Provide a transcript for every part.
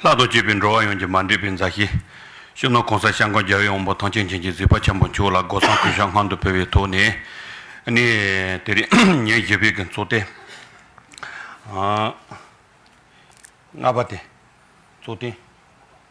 ལྷག་ཏུ་སྤྱོད་པའི་འགྲོ་བ་ཡོངས་ཀྱི་མ་འདྲེས་པའི་མཛའ་བཤེས། གཞོན་ནུ་གོང་ས་ཤང་ཀང་རྒྱལ་བའི་དབང་པོ་ཐང་ཆེན་བྱིན་གྱིས་གཟིགས་པ་ཆེན་པོ་མཆོག་ལ་སྒོ་སྲང་གུས་ཞབས་སྔར་འདུ་འཕེལ་བའི་ཐོག་ནས་ནས་དེ་རིང་ཉིན་བཞི་པའི་གིང་ཚོགས་ཏེ་ལྔ་པ་དེ་ཚོགས་སྟེང།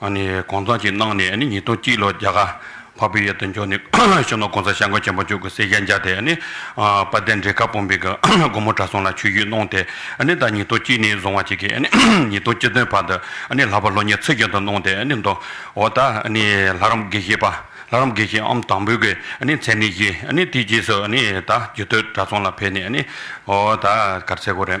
གོང་ཚང་ཞིག་གནང་ནས་ཉིས་སྟོང་གཅིག་ལོར་རྒྱ་གར་བྷ་བྷི་ཡ་དུ་འབྱོར་ནས་གཞོན་ནུ་གོང་ས་ཤངས་ཀོ་ཆེན་པོ་མཆོག་གི་སྲས་ཤཱན་ཇཱ་དེ་དཔལ་ལྡན་འབྲས་དཀར་དཔོན་པོའི་སྒོ་མོ་དགྲ་སྲོང་ལ་ཆོས་བརྒྱུད་གནང་སྟེ་ད་ཉིས་སྟོང་གཅིག་ནས་བཟུང་བ་ཅིག་གིས་ཉིས་སྟོང་གཅིག་བདུན་བར་དུ་ལྷག་པར་ལོ་ཉེར་ཚིག་བརྒྱད་དུ་གནང་སྟེ་འདུག་འོ་ད་ལྷ་རམས་དགེ་བཤེས་པ་ལྷ་རམས་དགེ་བཤེས་ཨམ་དང་པོའི་གི་མཚན་གནས་བཞེས་དེའི་རྗེས་སུ་ད་རྒྱུད་སྟོད་དགྲ་སྲོང་ལ་ཕེབས་ནས་འོ་ད་གར་ཚེ་གོ་རེ།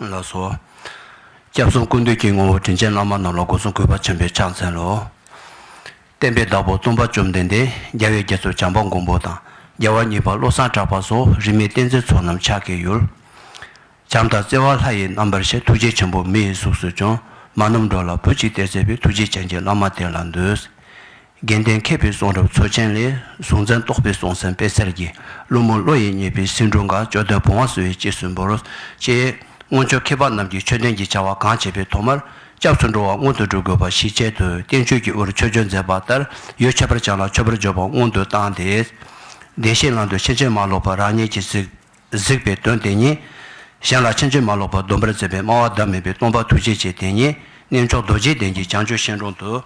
ལ་སོགས། སྐྱབས་གསུམ་ཀུན་འདུས་ཀྱི་ངོ་བོ་དྲིན་ཅན་བླ་མ་རྣམས་ལ་སྒོ་སྲུང་གུས་པ་ཆེན་པོས་ཕྱག་འཚལ་ལོ། བསྟན་པའི་བདག་པོ་སྟོང་པ་བཅོམ་ལྡན་འདས་རྒྱལ་བའི་རྒྱ་མཚོ་བྱམས་པ་མགོན་པོ་དང་རྒྱལ་བ་གཉིས་པ་བློ་བཟང་གྲགས་པ་སོགས་རིས་མེད་བསྟན་འཛིན་ཚོགས་རྣམས་ཕྱག་གི་ཡུལ། བྱམས་དང་བརྩེ་བ་ལྷ་ཡི་རྣམ་པར་ཤེས་ཐུགས་རྗེ་ཆེན་པོ་མི་ཡི་གཟུགས་སུ་བྱོན། མ་རྣམས་འགྲོ་ལ་བུ་གཅིག་སྟེར་མཛད་པའི་ཐུགས་རྗེ་ཅན་གྱི་བླ་མ་དེ་ལ་འདུད། རྒན་གཏན་མཁས་པའི་གསུང་རབ་མཚོ་ཆེན་ལས་གཟུང་འཛིན་རྟོག་པའི་གསུང་སེམས་དཔེ་སེར་གྱི་བླུན་མོ་བློ་ཡིས་རྙེད་པའི་སེང་སྒྲུང་འགའ་ཅོ་སྟོན་བུང་བ་བསུ་བའི་དཔྱིད་སུ་འབོ་རོ། ཅེས་སྔོན་བཅོ་ཁེ་པ་རྣམས་ཀྱིས་ཆོས་ལྡན་གྱི་བྱ་བ་གང་བྱེད་པའི་ཐོག་མར་སྐྱབས་སུ་འགྲོ་བ་སྔོན་དུ་འགྲོ་དགོས་པ་ཞིག་ཆེད་དུ་བསྟན་བཅོས་ཀྱི་འུར་ཆོས་སྦྱོར་མཛད་པ་ལྟར་ཡོ་བྱད་པར་སྦྱངས་ལ་མཆོད་པར་སྦྱོར་བ་སྔོན་དུ་བཏང་སྟེ། བདེན་བཞིའི་ངང་དུ་ཕྱིན་ཅི་མ་ལོག་པར་རང་ཉིད་ཀྱིས་གཟིགས། གཟིགས་པའི་དོན་དེ་ཉིད། གཞན་ལ་ཕྱིན་ཅི་མ་ལོག་པར་སྡོམ་པར་མཛད་པའི་སྨྲ་བ་ཟླ་མེད་པའི་སྟོང་པ་ཐུགས་རྗེ་ཆེ་དེ་ཉིད་གནས་མཆོག་རྡོ་རྗེའི་གདན་གྱི་བྱང་ཆུབ་ཤིང་དྲུང་དུ།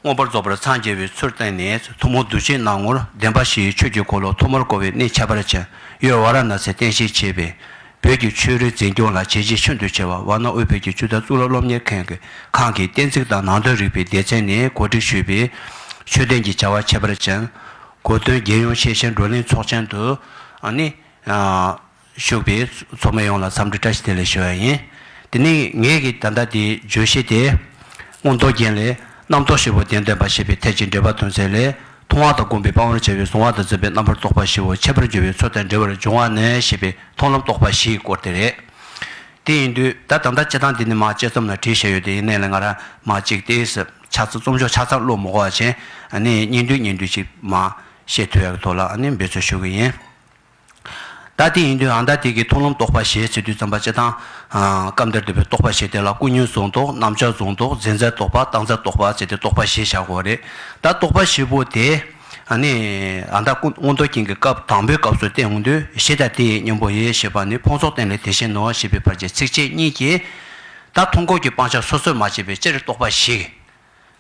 མངོན་པར་རྫོགས་པར་འཚང་རྒྱ་བའི་ཚུལ་བསྟན་ནས་ཐུན་མོང་གདུལ་བྱའི་སྣང་ངོར་བདེན་པ་བཞིའི་ཆོས་ཀྱི་འཁོར་ལོ་ཐོག་མར་བསྐོར་བའི་གནས་ཁྱད་པར་ཅན་ཡོད་ཝཱ་ར་ན་སའི་རྟེན་གཞིར་བྱས་པའི་བོད་ཀྱི་ཆོས་རིག་འཛིན་སྐྱོང་ལ་བྱས་རྗེས་ཤིན་ཏུ་ཆེ་བ་ཝཱ་ན་དབུས་བོད་ཀྱི་ཆོས་དར་གཙུག་ལག་སློབ་གཉེར་མཁན་གྱི་ཁང་གི་གཏན་ཚིགས་དང་ནང་དོན་རིག་པའི་སྡེ་ཚན་ནས་གོ་སྒྲིག་ཞུས་པའི་ཆོས་ལྡན་གྱི་བྱ་བ་ཁྱད་པར་ཅན། གོ་སྟོན་རྒྱལ་ཡོངས་ཤེས་བྱའི་བགྲོ་གླེང་ཚོགས་ཆེན་དུ་ནི། ཞུགས་པའི་ཚོགས་མི་ཡོངས་ལ་འཚམས་འདྲི་བཀྲ་ཤིས་བདེ་ལེགས་ཞུ་བ་ཡིན། དེ་ནས་ངེད་ཀྱིས་ད་ལྟ་དེའི་བརྗོད་གཞི་དེ། སྔོན་མདོ་རྒྱན་ལས། རྣམ་རྟོག་བཞི་པོ་བདེན་སྟོན་པ་ཞེས་པའི་ཐད་ཀྱི་འགྲེལ་པ་དོན་ཚན་ལས། མཐོང་བ་དང་བསྒོམ་པའི་སྤང་བར་བྱ་བའི་གཟུང་བ་དང་འཛིན་པའི་རྣམ་པར་རྟོག་པ་བཞི་བོ་འཆད་པར་འགྱུར་བའི་ཚུལ་དང་འབྲེལ་བར་འབྱུང་བ་ནི་ཞེས་པའི་མཐོང་ལམ་རྟོག་པ་བཞིའི་སྐོར་དེ་རེད། དེ་ཡིན་དུས་ད་ད་ལྟ་དཔྱད་སྟངས་འདི་ནི་མ་དཔྱད་རྩོམ་ལ་བྲིས་བྱས་ཡོད་དེ་ཡིན་ནའི་ལན་ང་རང་མ་གཅིག་སྟེ། ཆགས་ཚ་རྩོམ་ཕྱོགས་ཆ་ཚང་བློ་མི་གོ་བ་ཅན་ནི་སྙིང་བསྡུས་སྙིང་བསྡུས་ཅིག་མ། ཤེས་ཐུལ་བ་གི་ཐོག་ལ་ནི་འབད་རྩོལ་ཞུ་གི་ཡིན། ལྟ་དེ་ཡིན་དུའང་ལྟ་དེ་གའི་མཐོང་ལམ་རྟོགས་པ་ཞེས་བྱ་དུས་བརྩམས་པ་སྤྱི་དང། སྐབས་འདིར་འདོད་པའི་རྟོགས་པ་ཞེས་དེ་ལ་ཀུན་ཉོན་གཟུང་རྟོག་རྣམ་བྱང་གཟུང་རྟོག་འཛིན་རྩལ་རྟོགས་པ་བཏགས་འཛིན་རྟོགས་པ་ཅེས་ཏེ་རྟོགས་པ་ཞེས་བྱ་བ་རེད། ལྟ་རྟོགས་པ་བཞི་པོ་དེ་ནི་ད་ལྟ་སྔོན་མདོ་རྒྱན་གྱི་སྐབས་དང་པོའི་སྐབས་སུ་བསྟན་འོང་དུས་གཞི་ལྟ་དེ་ཡི་གཉེན་པོ་ཡིན་ཞེས་པ་ནི་ཕུང་སོགས་རྟེན་ལས་དེ་བཞིན་ནོ་ཞེས་པའི་བར་གྱི་ཚིགས་བཅད་གཉིས་ཀྱིས་ལྟ་མཐོང་འཁོར་གྱི་སྤང་བྱ་སོ་སོར་མ་ཕྱེད་པའི་སྤྱིར་རྟོགས་པ་ཞིག།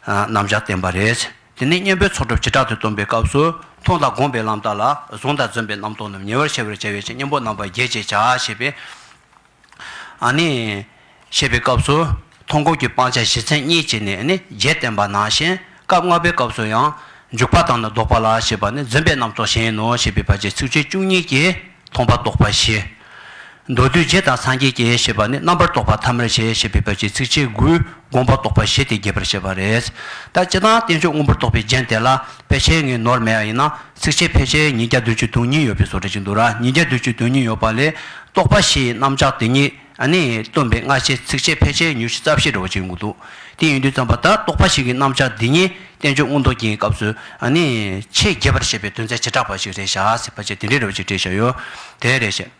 རྣམ་བཞག་བསྟན་པ་རེད། དེ་ནས་གཉེན་པོའི་ཚོགས་སྒྲུབ་བྱེ་བྲག་ཏུ་སྟོན་པའི་སྐབས་སུ། མཐོང་དང་བསྒོམས་པའི་ལམ་དག་ལ་གཟུང་དང་བརྫུན་པའི་རྣམ་རྟོག་རྣམས་ཉེ་བར་ཤེས་པར་བྱ་བའི་ཕྱིར་གཉེན་པོ་རྣམ་པ་བརྒྱད་ཅེས་བྱ་ཞེས་པའི། ནི། ཞེས་པའི་སྐབས་སུ། མཐོང་སྒོམ་གྱི་སྤང་བྱ་བཞི་ཚན་གཉིས་ཀྱིས་ནི་ནི་བརྒྱད་བསྟན་པ་ནང་བཞིན། སྐབས་ལྔ་པའི་སྐབས་སུ་ཡང། འཇུག་པ་དང་ནི་ལྡོག་པ་ལ་ཞེས་པ་ནི་བརྫུན་པའི་རྣམ་རྟོག་གཞན་ཡིན་ནོ་ཞེས་པའི་བར་གྱི་ཚིག་བཅད་བཅུ་གཉིས་ཀྱིས་མཐོང་པ་རྟོགས་པ་བཞི། མདོར་བསྡུས་རྗེ་དང་སངས་རྒྱས་ཀྱི་ཞེས་པ་ནི་རྣམ་པར་རྟོག་པ་ཐ་མར་བྱེད་ཞེས་པའི་བར་གྱི་ཚིགས་བཅད་དགུའི་དགོངས་པ་རྟོགས་པ་བཞི་སྟེ་རྒྱས་པར་བཤད་པ་རེད། ལྟ་སྤྱི་དང་བསྟན་བཅོས་དངོས་པོར་རྟོགས་པའི་རྒྱན་དེ་ལ་དཔེ་ཆའི་ངེས་ནོར་མེད་ཡ་ཡིན་ན་ཚིགས་བཅད་ཕལ་ཆེར་ཉིས་བརྒྱ་དོན་བཅུ་དོན་གཉིས་ཡོད་པའི་བཟོ་གྲྭ་ཅིག་འདུག་ར་ཉིས་བརྒྱ་དོན་བཅུ་དོན་གཉིས་ཡོད་པ་ལས་རྟོགས་པ་བཞིའི་རྣམ་གཞག་དེ་ཉིད་ནི་སྟོན་པའི་སྔ་ཕྱིའི་ཚིགས་བཅད་ཕལ་ཆེར་ཉུར་བཞི་རྩ་བཞི་འདྲ་བོ་ཅིག་འདུག་དེ་ཡིན་དུས་བརྩམས་པ་ད་རྟོགས་པ་ཞིག་གི་རྣམ་གཞག་འདི་ཉིད་བསྟན་བཅོས་མངོན་རྟོགས་ཀྱི་སྐབས་སུ་ནི་ཆེས་རྒྱས་པར་བཤད་པའི་དོན་ཚད་བྱེ་བྲག་པ་ཞིག་རེད་བྱ་སྲིད་པ་བཅས་དེ་འདྲའི་རེ་བ་ཅིག་སྤྲད་བཞག་ཡོད་དེ་རེད་བཤད།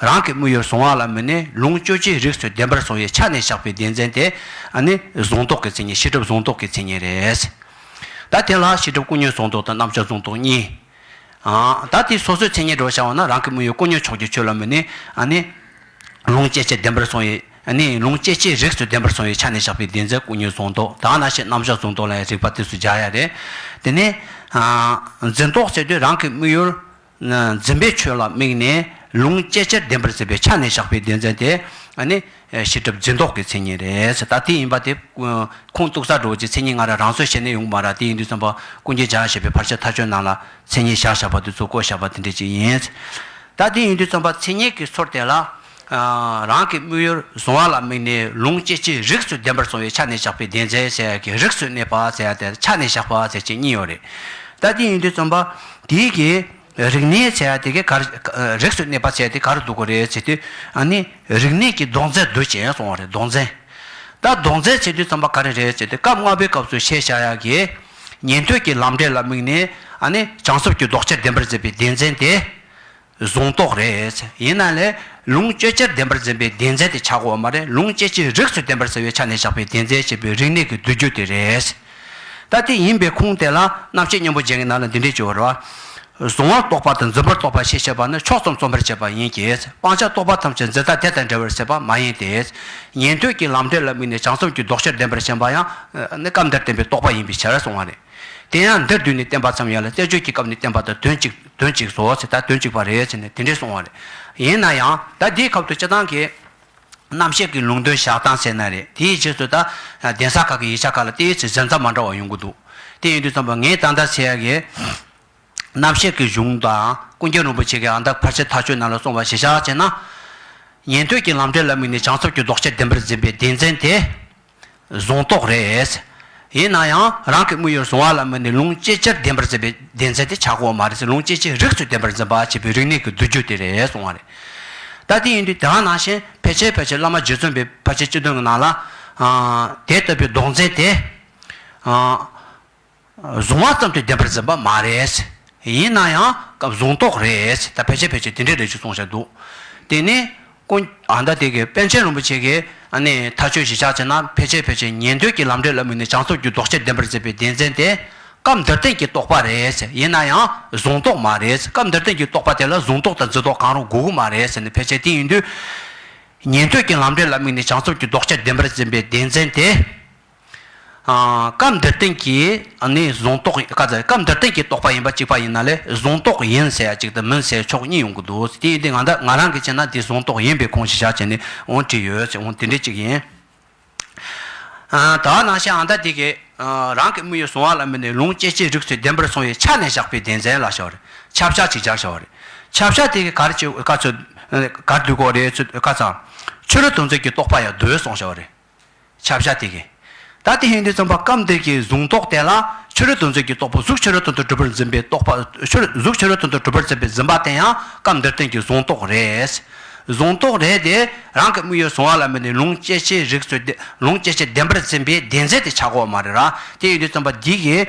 རང་གི་དམུས་ཡུལ་བཟུང་བ་ལ་མི་གནས་ལུང་སྤྱོད་རྗེས་རིགས་སུ་བདེན་པར་བཟུང་བའི་ཆ་ནས་བཞག་པའི་བདེན་འཛིན་དེ་ནི་བཟུང་རྟོག་གི་མཚན་ཉིད་ཤེས་སྒྲིབ་བཟུང་རྟོག་གི་མཚན་ཉིད་རེད། ད་དེ་ལ་ཤེས་སྒྲིབ་ཀུན་ཉོན་བཟུང་རྟོག་དང་རྣམ་བྱང་བཟུང་རྟོག་གཉིས། ད་དེ་སོ་སོའི་མཚན་ཉིད་འགྲོ་བྱ་བ་ན་རང་གི་དམུས་ཡུལ་ཀུན་ཉོན་ཕྱོགས་ཀྱི་ཆོས་ལ་མི་གནས། ལུང་སྤྱད་རྗེས་བདེན་པར་བཟུང་བའི། ལུང་སྤྱད་རྗེས་རིགས་སུ་བདེན་པར་བཟུང་བའི་ཆ་ནས་བཞག་པའི་བདེན་འཛིན་ཀུན་ཉོན་བཟུང་རྟོག་དག་ན་ཤེས་རྣམ་བྱང་བཟུང་རྟོག་ལ་ཡང་རིགས་པ་དུས་སུ་སྦྱར་ཡ་རེད། དེ་ནས། འཛིན་རྟོག་བྱེད་དུས་རང་གི་དམུས་ཡུལ། འཛིན་པའི་ཆོས་ལ་དམིགས་ནས་ལུང་བཅད་ཕྱིར་བདེན་པར་གསལ་བའི་ཆ་ནས་བཞག་པའི་བདེན་འཛིན་དེ་ནི། ཤེས་སྒྲིབ་འཛིན་རྟོག་གི་མཚན་ཉིད་རེད། ད་དེ་ཡིན་པ་དེ། ཁུངས་གཏུགས་ས་འགྲོ་བ་ཀྱི་མཚན་ཉིད་སྔ་ར་རང་སོར་བཤད་ནས་ཡོང་པ་ར་དེ་ཡིན་དུས་བསམ་པ་ཀུན་གྱིས་བྱ་ཞེས་པའི་བར་ཆད་མཐའ་ཆོད་ནང་ལ་མཚན་ཉིད་བཞག་བཞག་པ་དེ་ཚོ་བཀོད་བཞག་པ་དེ་འདྲས་ཅིག་ཡིན། ད་དེ་ཡིན་དུས་བསམ་པ་མཚན་ཉིད་ཀྱི་ཚོར་དེ་ལ། རང་གི་དམིགས་ཡུལ་བཟུང་བ་ལ་དམིགས་ནས་ལུང་སྐྱེས་ཀྱི་རིགས་སུ་བདེན་པར་བཟུང་བའི་ཆ་ནས་བཞག་པའི་བདེན་བརྫད་ཟེར་ཡ་གི་རིགས་སུ་གནས་པ་ཟེར་ཡ་དེ་ཆ་ནས་བཞག་པ་ཟེར་བཅས་གཉིས་ཡོད་རེད། ད་དེ་ཡིན་དུས་རྩོམ་པ་དེའི་གི་རིག་གནས་ཟེར་ཡ་དེ་གའི་གར་རིགས་སུ་གནས་པ་ཟེར་ཡ་དེ་ག་རུ་འདུག་གོ་རེད་ཟེར་དུས་ཨ་ནི་རིག་གནས་ཀྱི་ལྡོག་རྫས་འདུག་ཅེས་གསུང་བ་རེད་ལྡོག་རྫས། ད་ལྡོག་རྫས་བྱེད་དུས་རྩོམ་པ་ག་རེ་རེད་ཟེར་དུས་སྐབས་ལྔ་པའི་སྐབས་སུ་བཤད་བཞག་ཡ་གི་ཉན་ཐོས་ཀྱི་ལམ་འབྲས་ལ་དམིགས་ནས་ཨ་ནི་བྱང་སེམས་ཀྱི་ལྡོག་ཆ་བདེན་པར་མཛད་པའི་བདེན་བརྫད་དེ། གཟུང་རྟོག་རེད། ཡིན་ན་ལས། ལུང་སྤྱོད་སྤྱིར་བདེན་པར་འཛིན་པའི་བདེན་རྫས་དེ་ཆག་འོག་མ་རེད་ལུང་སྤྱོད་སྤྱིར་རིགས་སུ་བསྟན་པར་ཟེར་བའི་ཆ་ནས་བཞག་པའི་བདེན་རྫས་ཅེས་པའི་རིག་གནས་ཀྱི་བསྡུ་རྒྱུ་དེ་རེད། ད་དེ་ཡིན་པའི་ཁུངས་དེ་ལ་རྣམ་ཤེས་གཉེན་པོ་ཅན་གྱི་ནང་ལ་འདི་འདྲའི་སྤྱི་བོར། གཟུང་བར་རྟོག་པ་དང་འཛིན་པར་རྟོག་པ་ཞེས་བྱ་བ་ནི་ཕྱོགས་ཙམ་རྩོམ་པར་བྱེད་པ་ཡིན་གྱི། སྤང་བྱ་རྟོག་པ་ཐམས་ཅད་འཛིན་སྟངས་དེ་དང་འབྲེལ་བར་ཟེར་བ་མ་ཡིན་ཏེ། ཉན་ཐོས་ཀྱི་ལམ་འབྲས་ལ་དམིགས་ནས་བྱང་སེམས་ཀྱི་ལྡོག་ཕྱིར་བདེན་པར་ཞེན་པ་ཡང། ནི་སྐབས་འདིར་བསྟན་པའི་རྟོག་པ་ཡིན་པའི་ཕྱིར་གསུངས་བ་རེད། དེ་ཡང་འདིར་བསྡུས་ནས་བསྟན་པ་ཙམ་ཡིན་ལ་བསྟན་བཅོས་ཀྱི་སྐབས་ནི་བསྟན་པ་དང་དོན་གཅིག། དོན་གཅིག་བཟོ་ཟེར་ད་དོན་གཅིག་པ་རེད་ཟེར་ནས་དེ་འདྲས་སོང་བ་རེད། ཡིན་ན་ཡང་ད་འདིའི་ཁབ་ཏུ་སྤྱི་བཏང་གི་རྣམ་བཤད་ཀྱི་ལུང་དོན་བཞག་སྟངས་ཟེར་ན་རེད་དེའི་རྗེས་སུ་ད་གདན་ས་ཁག་གི་ཡིག་ཆ་ཁག་ལ་བལྟས་ཚེ་གཟན་རྩྭ་མ་འདྲ་བ་ཡོང་གི་འདུག་དེ་ཡིན་དུས་ཙམ་པོ་ངས་ད་ལྟ་ཟེར་ཡ་གི་རྣམ་བཤད་ཀྱི་གཞུང་དང་ཀུན་མཁྱེན་རིན་པོ་ཆེ་གི་ཨ་མདའ་ཕར་ཆེར་ཐག་ཆོད་གནང་ལ་སོང་བ་ཞེ་བཞག་བྱས་ན། ཉན་ཐོས་ཀྱི་ལམ་འབྲས་ལ་དམིགས་ནས་བྱང་ཆུབ་ཀྱི་ལྡོག་ཆས་བདེན་པར་འཛིན་པའི་སྡེ་ཚན་དེ། བཟུང་དོགས་རེད། ཡིན་ན་ཡང་རང་གི་དམིགས་ཡུལ་བཟུང་བ་ལ་དམིགས་ནས་ལུང་སྐྱེས་སྤྱིར་བདེན་པར་འཛིན་པའི་བདེན་ཚད་དེ་ཆག་སྒོ་མ་རེད་ལུང་སྐྱེས་སྤྱིར་རིགས་སུ་བདེན་པར་འཛིན་པ་བྱེད་པའི་རིག་གནས་ཀྱི་བསྡུ་རྒྱུ་དེ་རེད་གསུང་བ་རེད། ད་དེ་ཡིན་དུས་དེ་ག་ནང་བཞིན་ཕལ་ཆེར་ཕལ་ཆེར་བླ་མ་རྗེ་བཙུན་པའི་ཕ་ཆེ་སྤྱི་དོན་གྱི་ནང་ལ། དེ་ལྟ་བུའི་ལྡོག་འཛིན་དེ། བཟུང་བ་ཙམ་གྱིས་བདེན་པར་འཛིན་པ་མ་རེད། ཡིན་ན་ཡང་སྐབས་བཟུང་རྟོགས་རེད། ད་ཕལ་ཆེར་ཕལ་ཆེར་དེ་འདྲའི་རེད་ཅེས་གསུང་བཞིན་འདུག་དེ་ནི། ཀུན། ཨ་མདའ་དེ་གའི་པཎ་ཆེན་རིན་པོ་ཆེ་གིས། ནི། ཐག་གཅོད་གཞིས་ཆགས་བྱས་ན་ཕལ་ཆེར་ཕལ་ཆེར་ཉན་ཐོས་ཀྱི་ལམ་འབྲས་ལ་དམིགས་ནས་བྱང་ཆུབ་ཀྱི་ལྡོག་ཆས་བདེན་པར་འཛིན་པའི་བདེན་འཛིན་དེ། སྐབས་འདིར་བསྟན་གྱི་རྟོགས་པ་རེད། ཡིན་ན་ཡང། བཟུང་རྟོགས་མ་རེད། སྐབས་འདིར་བསྟན་གྱི་རྟོགས་པ་དེ་ལ་བཟུང་རྟོགས་དང་འཛིན་རྟོགས་གང་རུང་དགོས་གི་མ་རེད། ནི་ཕལ་ཆེར་དེ་ཡིན་དུས། ཉན་ཐོས་ཀྱི་ལམ་འབྲས་ལ་དམིགས་ནས་བྱང་ཆུབ་ཀྱི་ལྡོག་ཆས་བདེན་པར་འཛིན་པའི་བདེན་འཛིན་དེ། སྐབས་འདིར་བསྟན་གྱི་ནི་གཟུང་རྟོག་ཡིན། བཀའ་སྩལ། སྐབས་འདིར་བསྟན་གྱི་རྟོག་པ་ཡིན་པ་གཅིག་པ་ཡིན་ན་ལས་གཟུང་རྟོག་ཡིན་ཟེར་ཡ་གཅིག་དང་མིན་ཟེར་ཕྱོགས་གཉིས་ཡོང་གི་འདུག་དེ་ཡིན་དུས་ང་འདི་ང་རང་གིས་བྱས་ན་འདི་གཟུང་རྟོག་ཡིན་པའི་ཁུངས་ཤིག་བཞག་བྱས་ནས་འོང་བྲིས་ཡོད་ཟེར་འོང་དེ་འདྲའི་གཅིག་ཡིན། དག་སྣང་ཤེས་ཨ་མདའ་འདི་གས་རང་གི་དམིགས་ཡུལ་གཟུང་བ་ལ་མི་ནས་ལུང་སྐྱེས་སྐྱེས་རིགས་ཚུལ་བདེན་པར་གཟུང་བའི་ཆ་ནས་བཞག་པའི་བདེན་ཚན་ལ་བྱ་བ་རེད། ཆ་བཞག་ཅིག་སྦྱར་བྱ་བ་རེད། ཆ་བཞག་དེ་གས་གར་གཅིག་བཀའ་ཚོད། གར་དུས་གོ་རེ་ཚུལ་བཀའ་ཚང། ཆོས་ར་དུང་ཚོད་ཀྱི་རྟོག་པ་ཡང་བརྡོལ་སོང་བྱ་བ་རེད། བྱ་བྱ་སྟེ། བདག་དེ་ཧིན་དྷུའི་རྩོམ་པ་སྐབས་འདིར་གྱི་གཟུང་རྟོག་བསྟན་ལ། ཕྱི་རོལ་དུ་མཛོད་ཀྱི་རྟོག་པ་གཟུགས་ཕྱི་རོལ་དུ་གྲུབ་པར་འཛིན་པའི་རྟོག་པ། གཟུགས་ཕྱི་རོལ་དུ་གྲུབ་པར་འཛིན་པའི་འཛིན་པ་བསྟན་ཡང་སྐབས་འདིར་བསྟན་གྱི་གཟུང་རྟོག་རེད། གཟུང་རྟོག་རེད་དེ། རང་གི་དམིགས་ཡུལ་གཟུང་བ་ལ་མོས་ནས་ལུང་སྐྱེ་འཆིའི་རིགས་སུ། ལུང་སྐྱེ་འཆི་བདེན་པར་འཛིན་པའི་བདེན་འཛིན་དེ་ཆག་གོ་མ་རེད་ར། དེ་ཡིན་དུས་རྩོམ་པ་འདི་གིས།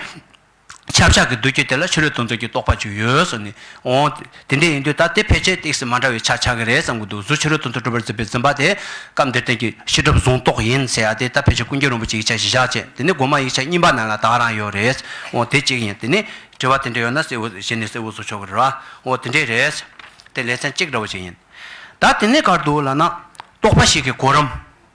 ཆབ་ཆགས་ཀྱི་འདུ་བྱེད་དེ་ལ་ཕྱི་རོལ་དུ་མཛོད་ཀྱི་རྟོག་པ་བཅུ་ཡོད་བཟོ་ནས་འོང། དེ་འདྲས་ཡིན་དུས་ད་དེ་ཕལ་ཆེར་སྟེགས་སུ་མ་འདྲ་བའི་ཆ་ཆགས་ཀྱི་རེད་བསམ་གྱི་འདུག་གཟུགས་ཕྱི་རོལ་དུ་མཛོད་གྲུབ་པར་འཛིན་པའི་འཛིན་པ་དེ་སྐབས་འདིར་བསྟན་གྱི་ཕྱི་སྒྲུབ་གཟུང་རྟོག་ཡིན་ཟེར་ཡ་དེ་ད་ཕལ་ཆེར་ཀུན་མཁྱེན་རིན་པོ་ཆེ་ཡིག་ཆ་བཞི་ཞག་ཅེས་དེ་ནི་སྒོ་མ་ཡིག་ཆ་གཉིས་པ་ན་ལ་དྭགས་རང་ཡོད་རེད་འོང་དེ་གཅིག་ཡིན་དེ་ནི་དྲི་བ་དེ་འདྲས་ཡོད་ན་གསལ་བོ་བྱས་ནས་གསལ་བོ་བཟོ་ཆོག་གི་རེད་བ་འོང་དེ་འདྲས་རེད། དེ་ལེ་ཚན་གཅིག་འདྲ་བོ་ཅིག་ཡིན། ད་དེ་ནས་གར་འདུག་ལ་ན་རྟོག་པ་ཞིག་གི་གོ་རིམ།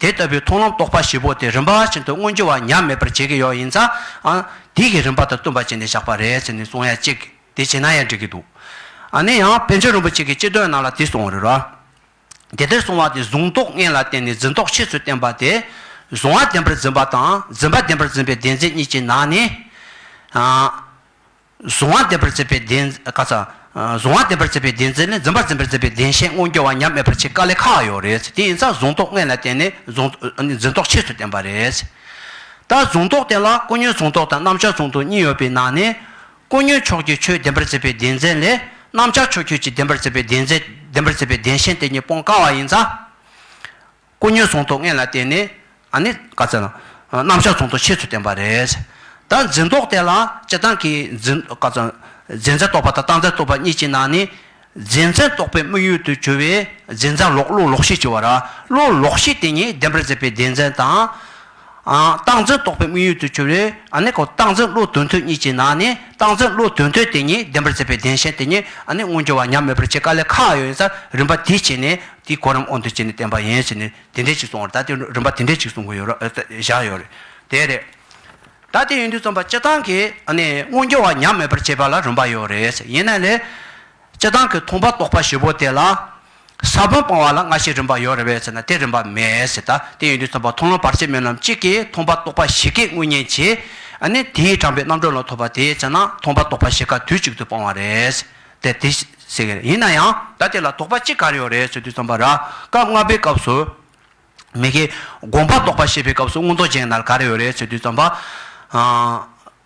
དེ་ལྟ་བུའི་མཐོང་ལམ་རྟོགས་པ་བཞི་པོ་དེ་རིམ་པ་བཞིན་དུ་མངོན་འགྱུར་བ་ཉམས་མེད་པར་བྱེད་ཀྱི་ཡོད་ཡིན་ཙང། དེ་ཡི་རིམ་པ་དང་བསྟུན་པ་བྱས་ནས་བཞག་པ་རེད་ཟེར་ནས་གསུང་ཡ་གཅིག་དེ་བྱས་ན་ཡང་འགྲིག་གི་འདུག། ནས་ཡང་བན་ཆོས་རིན་པོ་ཆེ་གི་སྤྱི་དོན་ནང་ལ་དེ་གསུང་བ་རེད་རོ། དེ་ལྟར་གསུང་བ་དེ་གཟུང་རྟོག་ལྔས་ལ་བརྟེན་ནས་འཛིན་རྟོག་ཕྱེད་ཚུལ་བསྟན་པ་དེ། གཟུང་བ་བདེན་པར་འཛིན་པ་དང་འཛིན་པ་བདེན་པར་འཛིན་པའི་བདེན་འཛིན་གཉིས་ཀྱི་ནང་ནས། གཟུང་བ་འདེབས་པར་བྱེད་པའི་གདན། ཀ་ཚ། གཟུང་བ་འདེབས་པར་བྱེད་པའི་གདན་འཛིན་ནི་འཛིན་པར་འཛིན་པར་བྱེད་པའི་གདན་ཞེས་སྔོན་སྐྱོ་བ་ཉམས་མེད་པར་ཕྱེད་ཀ་ལས་ཁ་བ་ཡོད་རེད། དེ་ཡིན་ཙང་གཟུང་རྟོག་ལྔས་ལ་བརྟེན་ནས་གཟུང། འཛིན་རྟོག་ཕྱིས་སུ་བསྟན་པ་རེད། ད་གཟུང་རྟོག་དེ་ལ་ཀུན་ཉོན་གཟུང་རྟོག་དང་རྣམ་བྱང་གཟུང་རྟོག་གཉིས་ཡོད་པའི་ནང་ནས། ཀུན་ཉོན་ཕྱོགས་ཀྱི་ཆོས་འདེམས་པར་བྱེད་པའི་གདན་འཛིན་ལས། རྣམ་བྱང་ཕྱོགས་ཁྱོད་ཀྱིས་འདེམས་པར་བྱེད་པའི་གདན་འཛིན། འདེམས་པར་བྱེད་པའི་གདན་ཞེན་དེ་གཉིས་སྤོང་དཀའ་བ་ཡིན་ཙང། ཀུ་ཉོའི་ཚོང་དོགས་ངན་ལ་བརྟེན་ནས་ཨ་ནི་དཀའ་ཚེགས་དང། རྣམ་གཞག་ཚོང་དོགས་ཆེད་དུ་བསྟན་པ་རེད། ད་འཛིན་རྟོག་དེ་ལ་སྤྱི་བཏང་གིས་འཛིན་དཀའ་ཚེགས། འཛིན་ཚན་རྟོག་པ་དང་བཏང་ཚན་རྟོག་པ་གཉིས་ཀྱི་ནང་ནས། འཛིན་ཚན་རྟོག་པའི་དམིགས་ཡུལ་དུ་གྱུར་བའི་འཛིན་ཚན་ལོག་བློ་ལོག་ཤེས་ཀྱི་བར། བློ་ལོག་ཤེས་དེ་ཉིད་བདེན་པར་མཛད་པའི་བདེན་ཚན་དང། སྟངས་འཛིན་རྟོག་པའི་དམིགས་ཡུལ་དུ་གྱུར་བས་ནི། སྟངས་འཛིན་བློ་དོན་དོན་གཉིས་ཀྱི་ནང་ནས་སྟངས་འཛིན་བློ་དོན་དོན་དེ་ཉིད་བདེན་པར་མཛད་པའི་བདེན་ཞེན་དེ་ཉིད་ནི་མངོན་གྱུར་བ་ཉམས་མེད་པར་བྱེད་དཀའ་ལས་ཁ་ཡོད་ཡིན་ས་རིམ་པ་དེ་བྱས་ནས་དེའི་གོ་རིམ་འོག་འདིར་བྱས་ནས་བསྟན་པ་ཡིན་ཞེས་ནི་དེ་འདྲའི་ཅིག་གསུངས་བར་ད་ལྟའི་རིམ་པ་དེ་འདྲའི་ཅིག་གསུང་གི་ཡོད་རེད་བཞག་ཡོད་རེད། དེ་རེད། ད་ལྟའི་ཡུན་དུས་རྩོམ་པ་སྤྱི་བཏང་གིས་ནི་མངོན་གྱུར་བ་ཉམས་མེད་པར་བྱེད་པ་ལ་རིམ་པ་ཡོད་རེད། ཡིན་ན་ལས། སྤྱི་བཏང་གི་མཐོང་པ་རྟོག་པ་བཞི་པོ་དེ་ལ། ས་བོན་སྤང་བ་ལ་སྔ་ཕྱི་རིམ་པ་ཡོད་རེད་བས་ཟེར་ན་དེ་རིམ་པ་མེད་ཟེར་ད་དེ་ཡོད་དུས་ཚོགས་པ་མཐོང་ལམ་བར་ཆད་མེད་ལམ་གཅིག་གིས་མཐོང་པ་རྟོགས་པ་བཞི་ཀས་དངོས་གཉེན་བྱེད། ཨ་ནི་དེའི་དྲངས་པའི་རྣམ་གྲོལ་ལ་ཐོབ་པ་དེས་བྱས་ན་མཐོང་པ་རྟོགས་པ་བཞི་ཀ་དུས་གཅིག་ཏུ་སྤང་བ་རེད། དེ་དེ་ཟེར་གི་རེད་ཡིན་ན་ཡང་ད་དེ་ལ་དོགས་པ་ཅི་ག་རེ་ཡོད་རེད་ཟེར་དུས་རྩོམ་པ་ར་སྐབས་ལྔ་པའི་སྐབས་སུ། མི་དགེ་དགོངས་པ་རྟོགས་པ་ཤེས་པའི་སྐབས་སུ་མངོན་རྟོགས་ཅན་ན་ག་རེ་ཡོད་རེད་ཟེར་དུས་རྩོམ་པ།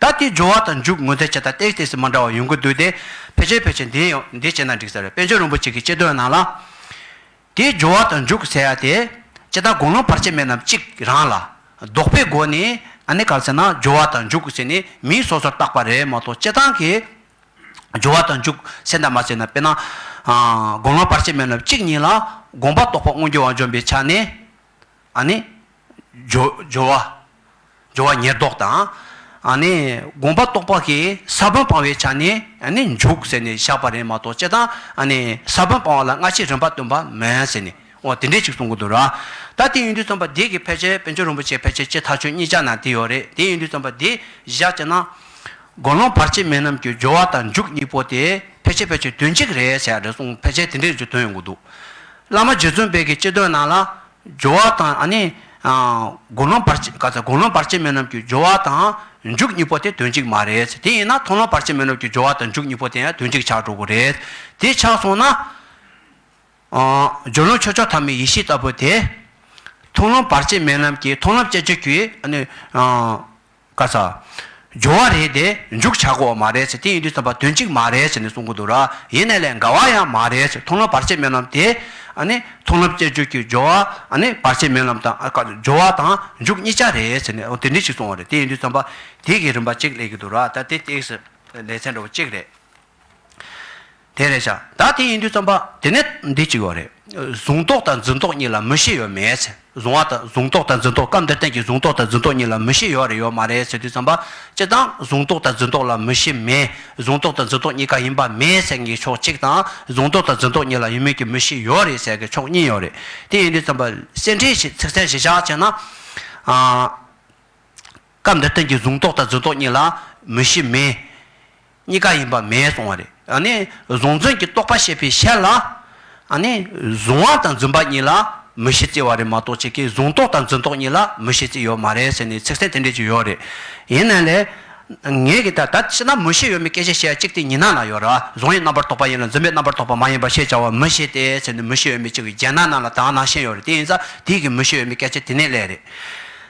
ད་དེའི་སྦྱོར་བ་དང་འཇུག་ངོ་ཚད་ཆད་ལྟ་སྟེ་ལྟས་ཟིན་མ་འདྲ་བ་ཡོང་གི་འདུག་དེ་ཕལ་ཆེར་ཕལ་ཆེར་འདི་ཡིན་འདི་བྱས་ན་འགྲིག་ས་རེད་དཔལ་འབྱོར་རིན་པོ་ཆེ་གི་དཔྱད་དོན་ནང་ལ། དེའི་སྦྱོར་བ་དང་འཇུག་ཟེར་ཡ་དེ། ཅི་ལྟར་དགོངས་ལུང་བར་ཆད་མེད་ནམ་གཅིག་རང་ལ། ལྡོག་པའི་སྒོ་ནས་ཨ་ནེ་ག་ལ་ཟེར་ན་སྦྱོར་བ་དང་འཇུག་ཟེར་ནས་མིང་སོ་སོར་བཏགས་པ་རེད་མ་གཏོགས་དཔྱད་སྟངས་ཀྱི། སྦྱོར་བ་དང་འཇུག་ཟེར་འདྲ་མ་ཟེར་འདྲ་དཔེར་ན། དགོངས་ལུང་བར་ཆད་མེད་ནམ་གཅིག་ཉིད་ལ་དགོངས་པ་རྟོགས་པ་མངོན་གྱུར་བ་འཇོམས་པའི་ཆ་ནས། ཨ་ནི། སྦྱོར་བ། སྦྱོར་བ་ཉེར་བསྡོགས་དང། ཨ་ནི། དགོངས་པ་རྟོགས་པ་གྱི་ས་བོན་སྤང་བའི་ཆ་ནས་ཨ་ནི་འཇུག་ཟེར་ནས་བཞག་པ་རེད་མ་གཏོགས་སྤྱིར་བཏང་ཨ་ནི་ས་བོན་སྤང་བ་ལ་སྔ་ཕྱི་རིམ་པ་སྟོན་པ་མེད་ཟེར་ནས་འོ་དེ་འདྲས་ཅིག་གསུང་གི་འདུག་ར། ད་དེ་ཡིན་དུས་བརྩམས་པ་འདི་གི་ཕལ་ཆེར་བན་ཆོས་རིན་པོ་ཆེ་ཕལ་ཆེར་སྤྱིར་ཐག་ཆོད་གཉིས་ཆ་ན་དེ་ཡོད་རེད་དེ་ཡིན་དུས་བརྩམས་པ་འདི་བཞག་ཅེ་ན། དགོན་ལུང་བར་ཆད་མེད་རྣམས་ཀྱི་སྦྱོར་བ་དང་འཇུག་གཉིས་པོ་དེ་ཕལ་ཆེར་ཕལ་ཆེར་དོན་གཅིག་རེད་ཟེར་ཡ་རེད་གསུང་ཕལ་ཆེར་དེ་འདྲས་ཅིག་དོན་ཡོང་གི་འདུག་བླ་མ་རྗེ་བཙུན་དཔལ་གྱི་སྤྱི་དོན་རྣམས་ལ། སྦྱོར་བ་དང། ཨ་ནི། དགུང་ལོ་བར་ཆད། བཀའ་སློབ་བར་ཆད་མེད་ནོབ་ཀྱི་སྦྱོར་བ་དང། མཇུག་གཉིས་པོ་དེ་དོན་གཅིག་མ་རེད། དེ་ཡིན་ན་མཐོང་ལོ་བར་ཆད་མེད་ནོབ་ཀྱི་སྦྱོར་བ་དང་མཇུག་གཉིས་པོ་དེ་ཡང་དོན་གཅིག་ཆགས་འགྲོ་དགོས་རེད། དེ་ཆགས་སོང་ན། སྦྱོར་ལུང་ཆོས་མཆོག་ཐ་མའི་ཡེ་ཤེས་ལྟ་བུ་དེ། མཐོང་ལོ་བར་ཆད་མེད་ནོབ་ཀྱི་མཐོང་ལམ་སྐྱེ་མཆེད་ཀྱི། ཨ་ནི། བཀའ་སྩལ། འབྱོར་བ་རེད་དེ་མཇུག་བྱ་དགོས་མ་རེད་ཟེར་དེ་ཡིན་དུས་བསམ་པ་དོན་གཅིག་མ་རེད་ཟེར་ནས་གསུང་གི་འདུག་ར་ཡིན་ནས་ལས་འགའ་བ་ཡང་མ་རེད་ཟེར་མཐོང་ལམ་བར་ཆད་སྨོན་ལམ་དེ། ཨ་ནི་མཐོང་ལམ་བཅས་བརྗོད་ཀྱི་འབྱོར་བ་ཨ་ནི་བར་ཆད་སྨོན་ལམ་དང་འབྱོར་བ་དང་མཇུག་གཉིས་ཆ་རེད་ཟེར་ནས་དེ་འདྲི་ཞིག་གསུང་བ་རེད་དེ་ཡིན་དུས་བསམ་པ་དེ་གི་རིན་པ་གཅིག་ལས་གི་འདུག་ར་ད་དེ་སྟེགས་སུ་ལས་ཚན་འགྲོ་བ་གཅིག་རེད། དེ་རེད་བྱ། ད་དེ་ཡིན་དུས་རྩོམ་པ་དེ་ནི་འདི་གཅིག་ཡོད་རེད། གཟུང་རྟོག་དང་འཛིན་རྟོག་གཉིས་ལ་མི་ཤེས་ཡོད་མེད་ཟེར། གཟུང་བ་དང་གཟུང་རྟོག་དང་འཛིན་རྟོག་སྐབས་འདིར་བསྟན་གྱི་གཟུང་རྟོག་དང་འཛིན་རྟོག་གཉིས་ལ་མི་ཤེས་ཡོད་རེད་ཡོད་མ་རེད་ཟེར་དུས་རྩོམ་པ་སྤྱི་དང་གཟུང་རྟོག་དང་འཛིན་རྟོག་ལ་མི་ཤེས་མེད། གཟུང་རྟོག་དང་འཛིན་རྟོག་གཉིས་ཀ་ཡིན་པ་མེད་ཟེར་གྱི་ཕྱོགས་གཅིག་དང། གཟུང་རྟོག་དང་འཛིན་རྟོག་གཉིས་ལ་ཡོད་མེད་ཀྱི་མི་ཤེས་ཡོད་རེད་ཟེར་གྱི་ཕྱོགས་གཉིས་ཡོད་རེད། དེ་ཡིན་དུས་རྩོམ་པ་སེར་འཕྲེང་ཞེས་ཚིག་མཚན་བཞི་ཆ་བྱས་ན། སྐབས་འདིར་བསྟན་གྱི་གཟུང་རྟོག་དང་འཛིན་རྟོག་གཉིས་ལ་མི་ཤེས་མེད། གཉིས་ཀ་ཡིན་པ་མེད་གསུང་བ་རེད། གཟུང་བརྫུན་གྱི་རྟོག་པ་ཤེས་པའི་ཕྱིར་ལ། གཟུང་བ་དང་བརྫུན་པ་གཉིས་ལ་མི་ཤེས་རྩིས་བ་རེད་མ་གཏོགས་ཁྱེད་ཀྱིས་གཟུང་རྟོག་དང་བརྫུན་རྟོག་གཉིས་ལ་མི་ཤེས་རྩིས་ཡོད་མ་རེད་ཟེར་ནས་ཚིག་གསལ་དེ་འདྲས་ཀྱི་ཡོད་རེད། ཡིན་ན་ལེ། ངེད་ཀྱིས་ད་ལྟ་ཕྱི་ནང་མི་ཤེས་ཡོད་མེད་སྐད་ཆ་བཤད་ཡ་གཅིག་དེ་ཉི་ནང་ན་ཡོད་ར་གཟུང་བའི་རྣམ་པར་རྟོག་པ་ཡིན་ལ་བརྫུན་པའི་རྣམ་པར་རྟོག་པ་མ་ཡིན་པར་ཤེས་བྱ་བ་མི་ཤེས་ཏེ་ཟེར་ནས་མི་ཤེས་ཡོད་མེད་གཅིག་གི་རྒྱན་ནང་ནང་ལ་དྭངས་ནང་ཤེས་ཡོད་རེད་དེ་ཡིན་ཙང་དེའི་གི་མི་ཤེས་ཡོད་མེད་སྐད་ཆ་དེ་ནས་ལས་རེད།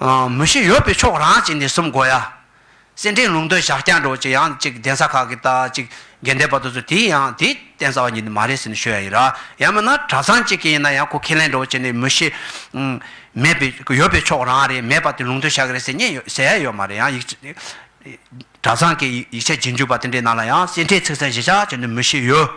མུ་བཞི་ཡོད་པའི་ཕྱོགས་རང་གཅིག་ནས་གསུམ་གོ་ཡ། སེར་འབྲས་ལུང་སྟོད་ཞག་བརྐྱང་གྲོགས་ཅིག་ཡང་གཅིག་གདན་ས་ཁག་གི་ལྟ་ཅིག་རྒན་བསྟན་པ་དུ་ཚོད་དེ་ཡང་དེའི་བསྟན་ས་བ་ཉིད་ནི་མ་རེད་ཟེར་ནས་ཤོད་ཡ་ཡིན་ར་ཡང་མིན་ན་གྲྭ་ཚང་གཅིག་གི་ཡིན་ན་ཡང་ཁོ་ཁས་ལེན་གྲོགས་ཅིག་ནས་མུ་བཞི། མེད་པའི་ཡོད་པའི་ཕྱོགས་རང་རེད་མེད་པ་དེ་ལུང་སྟོད་ཞག་རེད་ཟེར་ཉན་ཡོད་ཟེར་ཡ་ཡོད་མ་རེད་ཡང་ཡིག་ཆ། གྲྭ་ཚང་གི་ཡིག་ཆ་རྗེས་འཇུག་པ་དེ་འདྲའི་ནང་ལ་ཡང་སེར་འབྲས་ཚིག་ཚན་བཞི་ཆ་ཅིག་ནི་མུ་བཞི་ཡོད།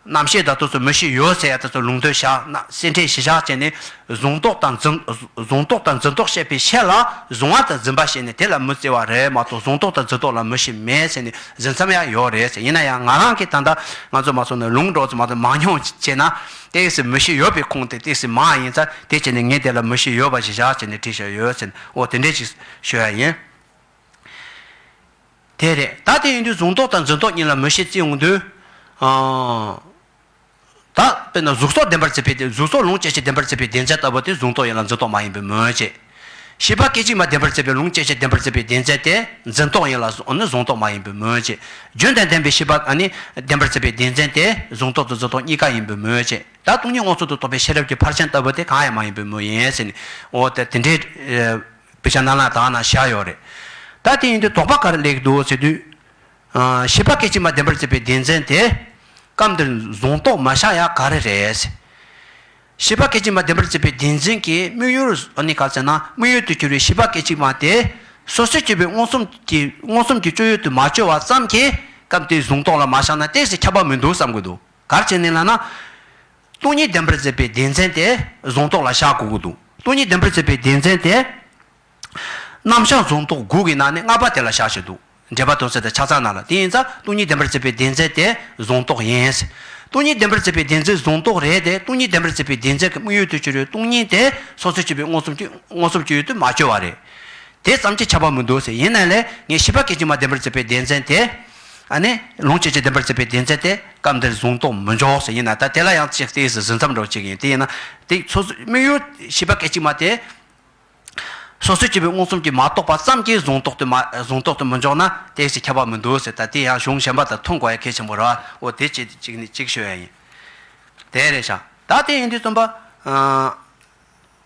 རྣམ་ཤེས་དང་དུ་སོ་མི་ཤེས་ཡོད་ཟེར་ཡ་དུ་སོ་ལུང་དོན་ཞག་ན་སེར་འཕྲེང་བཞི་ཞག་བཅད་ནས་གཟུང་རྟོག་དང་འཛིན་གཟུང་རྟོག་དང་འཛིན་རྟོག་བཤད་པའི་ཤད་ལ་གཟུང་བ་དང་འཛིན་པ་བཤད་ནས་དེ་ལ་མི་བརྩི་བ་རེད་མ་གཏོགས་གཟུང་རྟོག་དང་འཛིན་རྟོག་ལ་མི་ཤེས་མེད་ཟེར་ནས་གཟིགས་མཚམས་ཡང་ཡོད་རེད་ཟེར་ཡིན་ན་ཡང་ང་རང་གིས་ད་ལྟ་ང་ཚོ་མ་སོང་ནས་ལུང་སྒྲོག་ཙམ་མ་གཏོགས་མང་ཉུང་བྱས་ན་སྟེགས་སུ་མི་ཤེས་ཡོད་པའི་ཁུངས་དེ་སྟེགས་སུ་མང་ཡིན་ཚ་དེ་བྱས་ནས་ངས་དེ་ལ་མི་ཤེས་ཡོད་པ་བཞི་ཞག་བཅད་ནས་བྲིས་ཞག་ཡོད་ཟེར་ནས་འོ་དེ་འདྲས་ཞིག་ཤོད་ཡ་ཡིན། དེ་རེད་ད་དེ་ཡིན་དུས་གཟུགས་མདོག་དང་རྫུན་མདོག་གཉིས་ལ་མོས་ཤེས་བརྩི་འོང་དུས། ད་དཔེར་ན་གཟུགས་སོགས་བདེན་པར་བརྩི་བའི་དེ་གཟུགས་སོགས་ལུང་སྐྱེ་མཆེད་བདེན་པར་བརྩི་བའི་བདེན་རྫས་ལྟ་བུ་དེ་གཟུགས་མདོག་ཡིན་ལ་རྫུན་མདོག་མ་ཡིན་པའི་མོས་བྱེད། ཤེས་པ་སྐད་ཅིག་མ་བདེན་པར་བརྩི་བའི་ལུང་སྐྱེ་མཆེད་བདེན་པར་བརྩི་བའི་བདེན་རྫས་དེ་རྫུན་མདོག་ཡིན་ལ་ནི་གཟུང་མདོག་མ་ཡིན་པའི་མོས་བྱེད། རྒྱུན་ལྡན་བདེན་པའི་ཤེས་པ་ནི་བདེན་པར་བརྩི་བའི་བདེན་རྫས་དེ་གཟུགས་མདོག་དང་རྫུན་མདོག་གཉིས་ཀ་ཡིན་པའི་མོས་བྱེད། ད་སྟོང་ཉིད་དབང་ཚུལ་དུ་རྟོགས་པའི་ཤེས་རབ་ཀྱི་ཕར་ཕྱིན་ལྟ་བུ་དེ་གང་ཡང་མ་ཡིན་པའི་མོས་ཡིན། འོ་ད་དེ་འདྲའི། བི་ཤ་ནཱ་ལ་དག་ན་བཞག་ཡོད་རེད། ད་དེ་ཡིན་དུས་དོགས་པ་ག་རེ་ལེགས་འདུག་ཟེར་དུས། ཤེས་པ་སྐད་ཅིག་མ་བདེན་པར་བརྩིས་པའི་བདེན་འཛིན་དེ། སྐབས་འདིར་བཟུང་རྟོགས་མ་བཞག་ཡག་ག་རེ་རེད། ཤེས་པ་སྐད་ཅིག་མ་བདེན་པར་བརྩིས་པའི་བདེན་འཛིན་གྱི་དམིགས་ཡུལ་ནི་ག་ཟེར་ན་དམིགས་ཡུལ་དུ་གྱུར་བའི་ཤེས་པ་སྐད་ཅིག་མ་དེ། སོ་སོའི་སྐྱེ་བོའི་མངོན་སུམ་གྱི་མངོན་སུམ་གྱི་སྤྱོད་ཡུལ་དུ་མ་བཅོས་བ་ཙམ་གྱིས་སྐབས་འདིར་བཟུང་རྟོགས་ལ་མ་བཞག་ན་གཏན་ཞིག་ཁྱབ་པ་མི་འདུག་བསམ་དགོས་འདུག། གར་བྱེད་ནས་ལ་ན། སྟོང་ཉིད་བདེན་པར་མཛད་པའི་སྡེ་ཚན་དེ་རྫོང་རྟོགས་ལ་ཞག་དགུ་དགུ་འདུག་སྟོང་ཉིད་བདེན་པར་མཛད་པའི་སྡེ་ཚན་དེ། རྣམ་བཞག་རྫོང་རྟོགས་དགུ་གི་ནང་ནས་ལྔ་པ་དེ་ལ་ཞག་གཅིག་འདུག་འགྲེལ་པ་དོན་གསལ་དང་ཆ་ཚང་ནང་ལ་དེ་ཡིན་ཙང་སྟོང་ཉིད་བདེན་པར་མཛད་པའི་སྡེ་ཚན་དེ་རྫོང་རྟོགས་ཡིན། སྟོང་ཉིད་བདེན་པར་མཛད་པའི་སྡེ་ཚན་རྫོང་རྟོགས་རེད་དེ་སྟོང་ཉིད་བདེན་པར་མཛད་པའི་སྡེ་ཚན་གྱི་དམིགས་ཡུལ་དུ་གྱུར་བའི་སྟོང་ཉིད་དེ་སོ་སོའི་སྤྱི་པའི་མངོན་སུམ་གྱི་མངོན་སུམ་གྱི་ཡུལ་དུ་མ་བཅོས་བ་རེད། དེ་ཙམ་གྱིས་ཁྱབ་པ་མི་འདུག་ཟེར་ཡིན་ནའི་ལས་ངན་ཤེས་པ་སྐད་ཅིག་མ་བདེན་པར་མཛད་པའི་སྡེ་ཚན་དེ། ཨ་ནི། ལོངས་སྤྱོད་ཀྱི་བདེན་པར་བརྩི་བའི་བདེན་ཚད་དེ་སྐབས་འདིར་བཟུང་རྟོག་མི་འཇོག་ཟེར་ཡིན་ན་ད་དེ་ལ་ཡང་ཅིག་བལྟས་སུ་ཟིན་མཚམས་འགྲོ་ཅིག་ཡིན་དེ་ཡིན་ན། དེའི་སོ་སོའི་དམིགས་ཡུལ་ཞེས་པ་གལ་ཆེ་མ་དེ། སོ་སོའི་སྤྱི་བོའི་མངོན་སུམ་གྱིས་མ་རྟོགས་པ་ཙམ་གྱིས་བཟུང་རྟོག་ཏུ་མ་བཟུང་རྟོག་ཏུ་མི་འཇོག་ན་བལྟས་སུ་ཁྱབ་པ་མི་འདུག་ཟེར་ད་དེ་ཡང་གཞུང་གཞན་པ་དང་མཐུན་དགོས་ཡ་གལ་ཆེན་པོ་རེད་བ་འོ་དེ་ཅིག་ཅིག་ནས་ཅིག་ཤོད་ཡ་ཡིན། དེ་རེད་བྱ། ད་དེ་ཡིན་དུས་བཙུན་པ།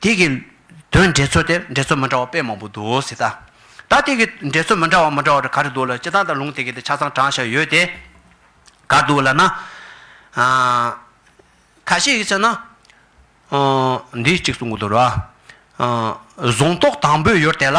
དེ་གི་དོན་འགྲེལ་ཚོད་དེར་འགྲེལ་ཚོད་མི་འདྲ་བ་དཔེ་མང་པོ་འདུག་ཟེར། ད་དེ་གི་འགྲེལ་ཚོད་མི་འདྲ་བ་མི་འདྲ་བ་དེ་ག་རེ་འདུག་ལ་སྤྱི་གཙང་དང་ལུང་དེ་གི་དེ་ཆ་ཚང་དྲངས་བཞག་ཡོད་དེ། ག་འདུག་ལ་ན། ག་ཞིག་ཡིན་ཟེར་ན། འདི་གཅིག་གསུང་གི་འདུག་ར། གཟུང་རྟོག་དང་པོའི་ཡུལ་དེ་ལ།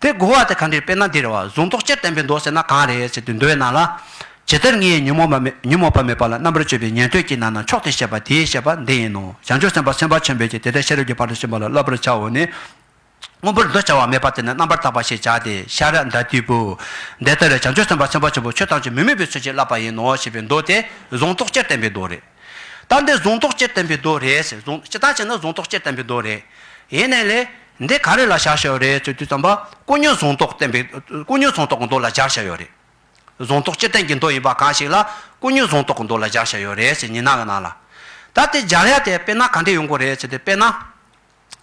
དེ་བསྒོ་བ་དེ་གང་འདིར་དཔེར་ན་འདིར་བ་གཟུང་རྟོག་སྤྱིར་བསྟན་པའི་མདོ་ཟེར་ན་གང་རེད་ཅེས་དེ་འདོད་ན་ལ། ཇི་ལྟར་ངའི་ཉོན་མོངས་པ་མེད་ཉོན་མོངས་པ་མེད་པ་ལ་རྣམ་པར་དཔྱོད་པའི་ཉན་ཐོས་ཀྱི་ནང་ན་མཆོག་དེས་བཤད་པ་དེའི་བཤད་པ་འདི་ཡིན་ནོ་བྱང་ཆུབ་སེམས་དཔའ་སེམས་དཔའ་ཆེན་པོས་ཀྱི་དེ་ལྟར་ཤེས་རབ་ཀྱི་བར་དུ་ཕྱིན་པ་ལ་བསླབ་པར་བྱའོ་ནི། དངོས་པོར་འདུ་བྱ་བ་མེད་པ་དེ་ནི་རྣམ་པར་དག་པ་ཞེས་བྱ་སྟེ་ཤཱ་ར་འདྀ་ཏིའི་བུ། འདི་ལྟར་བྱང་ཆུབ་སེམས་དཔའ་སེམས་དཔའ་ཆེན་པོ་ཆོས་ཐམས་ཅད་མི་དམིགས་པའི་ཚུལ་གྱིས་བསླབ་པ་ཡིན་ནོ་ཞེས་པའི་མདོ་དེ་གཟུང་རྟོག་སྤྱིར་བསྟན་པའི་མདོ་རེད། རྟགས་འདི་གཟུང་རྟོག་སྤྱིར་བསྟན་པའི་མདོ་རེད། ཟེར། གཟུང། སྤྱི་རྟགས་ཅན་ནི་གཟུང་རྟོག་སྤྱིར་བསྟན་པའི་མདོ་རེད། ཡེ་ནས་ལས། འདི་ག་རེ་ལ་བཞག་བྱ་ཡོད་རེད་ཅེས་དུས་ཙམ་པ། ཀུན་ཉོན་གཟུང་རྟོག་བསྟན་པའི། ཀུན་ཉོན་གཟུང་རྟོག་གི་མདོ་ལ་སྦྱར་བྱ་ཡོད་རེད། གཟུང་རྟོག་སྤྱིར་བསྟན་གྱི་མདོ་ཡིན་པ་གང་ཞིག་ལ། ཀུན་ཉོན་གཟུང་རྟོག་གི་མདོ་ལ་སྦྱར་བྱ་ཡོད་རེད་ཅེས་ཉི་ན་གི་ན་ལ། ད་དེ་སྦྱར་ཡ་དེ་དཔེར་ན་ག་འདྲས་ཡོང་གི་རེད་ཅེས་དེ་དཔེར་ན།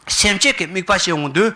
སེམས་བསྐྱེད་ཀྱི་དམིགས་པ་ཤེས་འོང་དུས།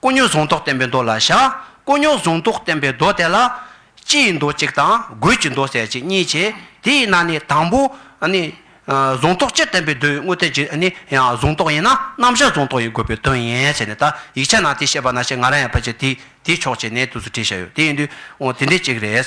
དཀོན་རྙོག་གཟུང་རྟོག་བསྟན་པའི་མདོ་ལ་བཞག། དཀོན་རྙོག་གཟུང་རྟོག་བསྟན་པའི་མདོ་དེ་ལ། སྤྱི་ཡི་མདོ་གཅིག་དང་སྒོས་ཀྱི་མདོ་གསལ་བྱེད་གཉིས་བྱེད། དེ་ཡིན་ན་ནི་དང་པོ། གཟུང་རྟོག་སྤྱིར་བསྟན་པའི་མདོའི་དངོས་བསྟན་གྱི། གཟུང་རྟོག་ཡིན་ན་རྣམ་བཞག་གཟུང་རྟོག་ཡིན་དགོས་པའི་དོན་ཡིན། ཞེས་ནས་ད་ཡིག་ཆ་ནང་དེ་བཤད་པ་ན་ཞེས་ང་རང་ཡང་ཕལ་ཆེར་དེའི་ཕྱོགས་ཀྱི་གནད་དུ་སུ་བྲིས་བཞག་ཡོད་དེ་ཡིན་དུས། དེ་འདྲའི་གཅིག་རེད།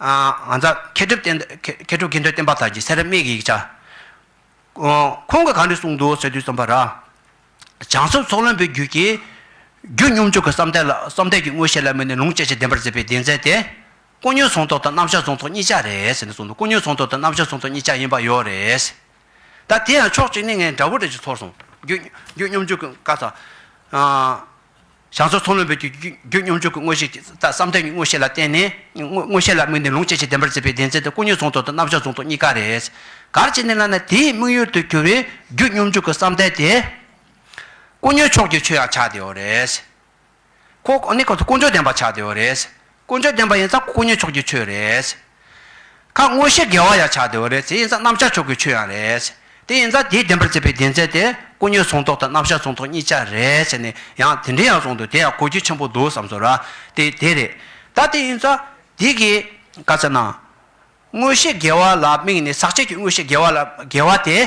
ང་ཚ་མཁས་གྲུབ་མཁས་གྲུབ་མཁས་འདོད་བསྟན་པ་དར་གྱི་སེ་ར་སྨད་ཀྱི་ཡིག་ཆ། ཁོང་གིས་གང་འདྲི་གསུངས་འདུག་ཟེར་དུས་རྩོམ་པ་ར་བྱང་སོགས་ཚོགས་བློན་པོའི་རྒྱུད་ཀྱི་རྒྱུད་སྙོམས་འཇུག་གི་བསམ་གཏན་ལ་བསམ་གཏན་གྱི་མངོན་ཤེས་ལ་དམིགས་ནས་ལུང་དཔྱད་ཅིང་བདེན་པར་མཛད་པའི་གདེང་ཚད་དེ། དཀོན་ཉོན་ཟོང་ཐོག་དང་རྣམ་བཞག་ཟོང་ཐོག་གཉིས་ཆ་རེད་ཟེར་ནས་གསུངས་འདུག་དཀོན་ཉོན་ཟོང་ཐོག་དང་རྣམ་བཞག་ཟོང་ཐོག་གཉིས་ཆ་ཡིན་པ་ཡོད་རེད། ད་དེ་ཡང་ཕྱོགས་གཅིག་ནས་ངས་འདྲ་བོ་འདྲ་ཅིག་ཚོར་སོང། རྒྱུད་སྙོམས་འཇུག་གི་བཀའ་ཚ། བྱང་ཕྱོགས་མཚོ་སྔོན་པོའི་རྒྱུད་རྒྱུད་སྙོམས་འཇུག་གི་དངོས་གཞི་དང་བསམ་གཏན་གྱི་མངོན་ཤེས་ལ་བརྟེན་ནས། མངོན་ཤེས་ལ་དམིགས་ནས་ལུང་སྐྱེ་མཆེད་བདེན་པར་འཛིན་པའི་བདེན་འཛིན་དེ་ཀུན་ཉོན་ཟུང་དུ་དང་རྣམ་གཞག་ཟུང་དུ་གཉིས་ཀ་རེད། གར་བྱེད་ནས་བསླབས་ན་དེའི་དམིགས་ཡུལ་དུ་གྱུར་བའི་རྒྱུད་སྙོམས་འཇུག་གི་བསམ་གཏན་དེ། ཀུན་ཉོན་ཕྱོགས་ཀྱི་ཆོས་ཡང་ཆགས་བདེའོ་རེད། ཀུན་ཉོན་བདེན་པ་ཆགས་བདེའོ་རེད། དཀོན་མཆོག་བསྟན་པ་ཡིན་ཙང་དཀོན་མཉེས་ཕྱོགས་ཀྱི་ཆོས་རེད། ཁ་དངོས་ཤེས་དགེ་བ་ཡང་བྱ་བདེ་བ་རེད་དེ་ཡིན་ཙང་རྣམ་བཞག་ཕྱོགས་ཀྱི་ཆོས་ཡང་རེད། དེ་ཡིན་ཙང་དེའི་བདེན་པར་བརྩིས་པའི་བདེན་ཚད་དེ་དཀོན་མཉེས་གཟུང་རྟོག་དང་རྣམ་བཞག་གཟུང་རྟོག་གཉིས་ཆ་རེད་ཟེར་ནས་ཡང་དེ་འདྲའི་ཡང་གསུངས་འདུག་དེ་ཡང་གོ་རྒྱུ་ཆེན་པོ་འདུག་བསམ་ཚོད་ར། དེ་དེ་རེད། ད་དེ་ཡིན་ཙང་དེ་གིས་བཀའ་སྩལ་ན། དངོས་ཤེས་དགེ་བ་ལ་དམིགས་ནས་ཟག་བཅས་ཀྱི་དངོས་ཤེས་དགེ་བ་ལ་དགེ་བ་དེ།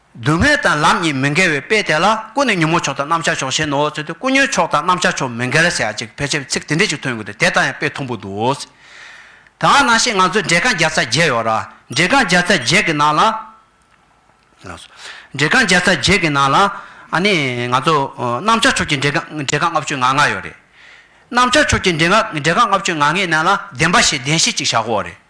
སྡུག་བསྔལ་དང་ལམ་གཉིས་མི་འགལ་བའི་དཔེ་དེ་ལ་ཀུན་ནས་ཉོན་མོངས་ཕྱོགས་དང་རྣམ་གཞག་ཕྱོགས་ཞེས་ནོར་བ་ཚུལ་དུ་ཀུན་ཉོན་ཕྱོགས་དང་རྣམ་གཞག་ཕྱོགས་མི་འགལ་ཟེར་ཅིག་ཕལ་ཆེར་ཚིག་དེ་འདྲས་ཅིག་ཐོན་གྱི་འདུག་དེ་དག་ཡང་དཔེ་མཐོང་པོ་འདུག་ཨོ་ཙི། ད་ང་ནང་བཞིན་ང་ཚོའི་འབྲས་རྐང་བརྒྱ་རྩ་བརྒྱད་ཡོད་ར། འབྲས་རྐང་བརྒྱ་རྩ་བརྒྱད་ཀྱི་ནང་ལ། འབྲས་རྐང་བརྒྱ་རྩ་བརྒྱད་ཀྱི་ནང་ལ། ཨ་ནི། ང་ཚོ། རྣམ་གཞག་ཕྱོགས་ཀྱི་འབྲས་རྐང་འབྲས་རྐང་ལྔ་བཅུ་ང་ལྔ་ཡོད་རེད། རྣམ་གཞག་ཕྱོགས་ཀྱི་འབྲས་རྐང་འབྲས་རྐང་ལྔ་བཅུ་ང་ལྔའི་ནང་ལ་བདེན་པ་ཞེས་བདེན་བཞི་གཅིག་བཞག་གོ་རེད།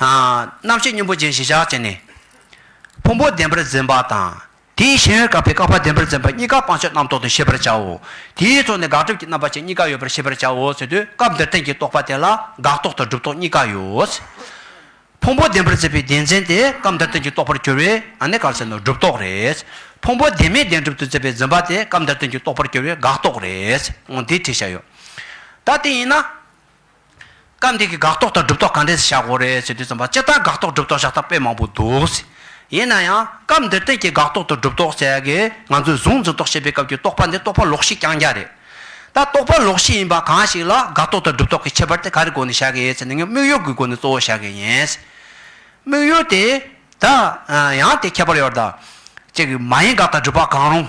རྣམ་ཤེས་སྙོམས་པོ་ཅན་ཞི་ཆགས་ཅན་ནི། ཕུང་པོ་བདེན་པར་འཛིན་པ་དང། དེའི་ཤེས་ཡོན་བཀག་པའི་བཀག་པ་བདེན་པར་འཛིན་པ་གཉིས་ཀ་སྤང་ཕྱོགས་རྣམ་རྟོག་ཏུ་ཤེས་པར་བྱའོ། དེའི་ཚོགས་ནི་དགག་སྒྲུབ་ཀྱི་རྣམ་པ་ཅན་གཉིས་ཀ་ཡོད་པར་ཤེས་པར་བྱའོ་ཟེར་དུས་སྐབས་འདིར་བསྟན་གྱི་རྟོག་པ་དེ་ལ་དགག་རྟོག་དང་སྒྲུབ་རྟོག་གཉིས་ཀ་ཡོད། ཕུང་པོ་བདེན་པར་འཛིན་པའི་བདེན་འཛིན་དེ་སྐབས་འདིར་བསྟན་གྱི་རྟོག་པར་གྱུར་བས་ཨཱ་ནི་གར་ཟེར་ནོ་སྒྲུབ་རྟོག་རེད། ཕུང་པོ་བདེན་མེད་བདེན་གྲུབ་ཏུ་འཛིན་པའི་འཛིན་པ་དེ་སྐབས་འདིར་བསྟན་གྱི་རྟོག་པར་གྱུར་བས་དགག་རྟོག་རེད། འདི་བྲིས་བྱ་ཡོད། ད་དེ་ཡིན་ན། སྐབས་འདིའི་དགག་རྟོག་དང་སྒྲུབ་རྟོག་ག་འདྲས་བྱ་དགོས་རེད་ཟེར་དུས་རྩོམ་པ་སྤྱི་ལྟར་དགག་རྟོག་སྒྲུབ་རྟོག་བྱ་ཐབས་དཔེ་མང་པོ་འདུག་ཡིན་ན་ཡང་སྐབས་འདིར་བསྟན་གྱི་དགག་རྟོག་དང་སྒྲུབ་རྟོག་བྱེད་དགོས་ང་ཚོས་བཟུང་འཛིན་རྟོག་བྱེད་པའི་སྐབས་ཀྱི་རྟོག་པ་འདི་རྟོག་པ་ལོག་ཤེས་རྐྱང་རྐྱང་རེད། ད་རྟོག་པ་ལོག་ཤེས་ཡིན་པ་གང་ཞིག་ལ་དགག་རྟོག་དང་སྒྲུབ་རྟོག་གི་ཁྱད་པར་དེ་ག་རེ་སྒོ་ནས་བྱ་དགོས་ཡོད་ཟེར་ན་ངས་དམིགས་ཡུལ་གྱི་སྒོ་ནས་གཙོ་བོ་བྱ་དགོས་ཡིན། དམིགས་ཡུལ་དེ། ད། ཡང་དེ་ཁྱད་པར་ཡོད། ཅིག་མ་ཡིན་དགག་དང་སྒྲུབ་པ་གང་རུང།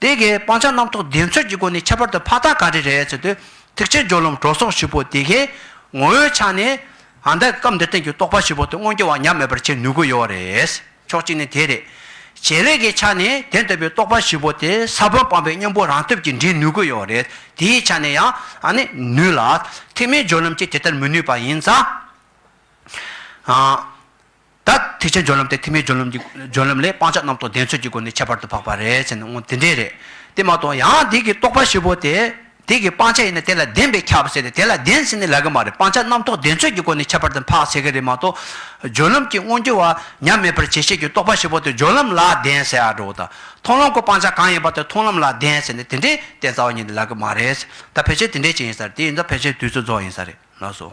དེ་གའི་སྤང་བྱ་རྣམ་རྟོག་བདེན་འཚོལ་གྱི་སྒོ་ནས་ཁྱད་པར་དུ་ཕ་རྟགས་ག་རེ་རེད་ཟེར་དུས། ཐེག་ཆེན་སྦྱོར་ལམ་གྲོལ་སོགས་བཞི་པོ་དེ་གའི་ངོ་བོའི་ཆ་ནས། ཨ་མདའི་སྐབས་འདིར་བསྟན་གྱི་རྟོག་པ་བཞི་པོ་དེ་མངོན་གྱུར་བ་ཉམས་མེད་པར་བྱེད་ནུས་དགོས་ཡོད་རེད། ཕྱོགས་གཅིག་ནས་དེ་རེད། བྱེད་ལས་ཀྱི་ཆ་ནས་དེ་ལྟ་བུའི་རྟོག་པ་བཞི་པོ་དེ་ས་བོན་སྤངས་པའི་གཉེན་པོ་རང་སྟོབས་ཀྱིས་འདྲེན་ནུས་དགོས་ཡོད་རེད། དེའི་ཆ་ནས་ཡང། ཨ་ནི། ནུས་ལ། ཐེག་དམན་སྦྱོར་ལམ་གྱིས་དེ་ལྟར་མི་ནུས་པ་ཡིན་ཙང། ད་ཐེག་ཆེན་སྦྱོར་ལམ་སྟེ་ཐེག་དམན་སྦྱོར་ལམ་གྱི་སྦྱོར་ལམ་ལས་སྤང་བྱ་རྣམ་རྟོག་བདེན་འཚོལ་གྱི་སྒོ་ནས་ཁྱད་པར་དུ་འཕགས་པ་རེད་ཟེར་ན་ངོ་དེ་འདྲས་རེད་དེ་མ་གཏོགས་ཡང་དེ་གི་རྟོག་པ་བཞི་པོ་དེ་དེ་གི་སྤང་བྱ་ཡིན་ན་དེ་ལ་བདེན་པས་ཁྱབ་ཟེར་ཏེ་དེ་ལ་བདེན་ཟེར་ནི་ལག་གི་མ་རེད་སྤང་བྱ་རྣམ་རྟོག་བདེན་འཚོལ་གྱི་སྒོ་ནས་ཁྱད་པར་དུ་འཕགས་ཟེར་གི་རེད་མ་གཏོགས། སྦྱོར་ལམ་གྱི་དངོས་འགྱུར་བ་ཉམས་མེད་པར་བྱེད་ཤེས་ཀྱི་རྟོག་པ་བཞི་པོ་དེ་སྦྱོར་ལམ་ལ་བདེན་ཟེར་ཡག་འགྲོ་དང་མཐོང་ལམ་གོ་སྤང་བྱ་གང་ཡིན་པ་དེ་མཐོང་ལམ་ལ་བདེན་ཟེར་ནི་དེ་འདྲའི་བདེན་རྩ་བ་ཉིད་དེ་ལག་གི་མ་རེད། ད་ཕལ་ཆེར་དེ་འདྲས་ཅིག་ཡིན་ས་རེད་དེ་ཡིན་ད་ཕལ་ཆེར་དུས་ཚོད་རྫོགས་ཡིན་ས་རེད་ལགས་སོ།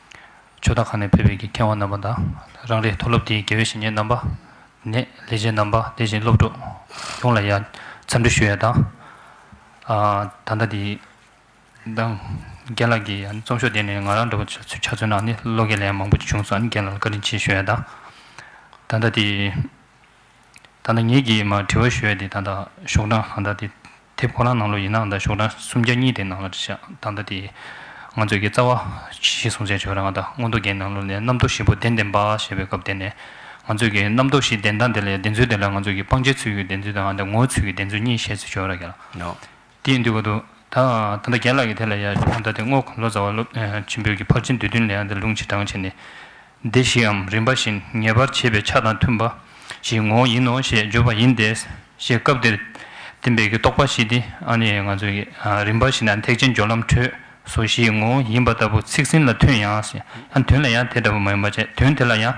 ཆོས་བདག་ཁང་ནས་ཕེབས་པའི་དགེ་རྒན་བ་རྣམ་པ་དང་རང་རེའི་མཐོ་སློབ་དེའི་དགེ་བའི་བཤེས་གཉེན་རྣམ་པ། ནས་ལས་བྱེད་རྣམ་པ་དེ་བཞིན་སློབ་གྲོགས་ཡོངས་ལ་ཡང་འཚམས་འདྲི་ཞུ་ཡ་དང། ད་ལྟ་དེའི་འདང་རྒན་ལགས་ཀྱིས་ཡང་རྩོམ་ཤོག་དེ་ནས་ང་རང་འདྲ་བོ་ཆ་མཚོན་ནང་ནས་བློ་འགེལ་ཡང་མང་པོ་བྱུང་སོང་རྒན་ལགས་ལ་བཀའ་དྲིན་ཆེ་ཞུ་ཡ་དང། ད་ལྟ་དེའི་ད་ལྟ་ངེད་ཀྱིས་མ་དྲི་བ་ཞུ་ཡ་དེ་ད་ལྟ་ཤོག་གྲངས་ད་ལྟ་དེ་དེབ་ཁོ་རང་ནང་ལོ་ཡིན་ནའང་ད་ཞོག་གྲངས་སུམ་བརྒྱ་གཉིས་དེ་ནང་ལ་བཞག་ད་ལྟ་དེ། ང་ཚོས་ཀྱི་རྩ་བ། ཞེས་གསུངས་བྱས་ཆོས་རང་ང་ད་སྔོན་རྡོ་རྒྱལ་ནང་ལོ་ནས་རྣམ་རྟོག་བཞི་པོ་གདན་འདེམས་པ་ཞེས་པའི་སྐབས་དེ་ནས། ང་ཚོས་ཀྱི་རྣམ་རྟོག་བཞི་གདན་དང་དེ་ལ་ཡང་གདན་ཚུལ་དེ་ལ་ང་ཚོས་ཀྱི་སྤང་བྱའི་ཚུལ་གྱི་གདན་ཚུལ་དང་ཨ་འདི་ངོ་བོའི་ཚུལ་གྱི་གདན་ཚུལ་གཉིས་བཤད་ཚུལ་ཆོས་ར་གལ། དེའི་འདུལ་བ་དུ། ད་ད་རྒྱལ་ལགས་ཀྱིས་དེ་ལ་ཡང་ཞོག་ད་དེ་སྔོ་གོང་ལོ་ཙཱ་བ་སློབ་ཆེན་པོས་ཀྱི་ཕར་ཕྱིན་བསྡུས་དོན་ལས་ཨ་འདི་ལུང་ཕྱིར་བགྲང་བྱས་ནས། བདེ་བཞིའམ་རིམ་པ་བཞིན་ངེས་པར་འབྱེད་པའི་ཆ་དང་མཐུན་པ་ཞིག་ངོ་བོ་ཡིན་ནོ་ཞེས་བརྗོད་པ་ཡིན་ཏེ། ཞེས་སྐབས་དེར་བསྟན་པའི་རྟོག་པ་བཞི་སྟེ། རིམ་པ་བཞིན་ཐེག་ཆེན་སྦྱོར་ལམ་འཕྲོས་སོ་བཞིའི་ངོ་བོ་ཡིན་པ་ལྟ་བུ་ཚིག་ཟིན་ལ་མཐུན་ཡང། དོན་ལ་ཡང་དེ་ལྟ་བུ་མ་ཡིན་པར་བྱས་དོན་དེ་ལ་ཡང།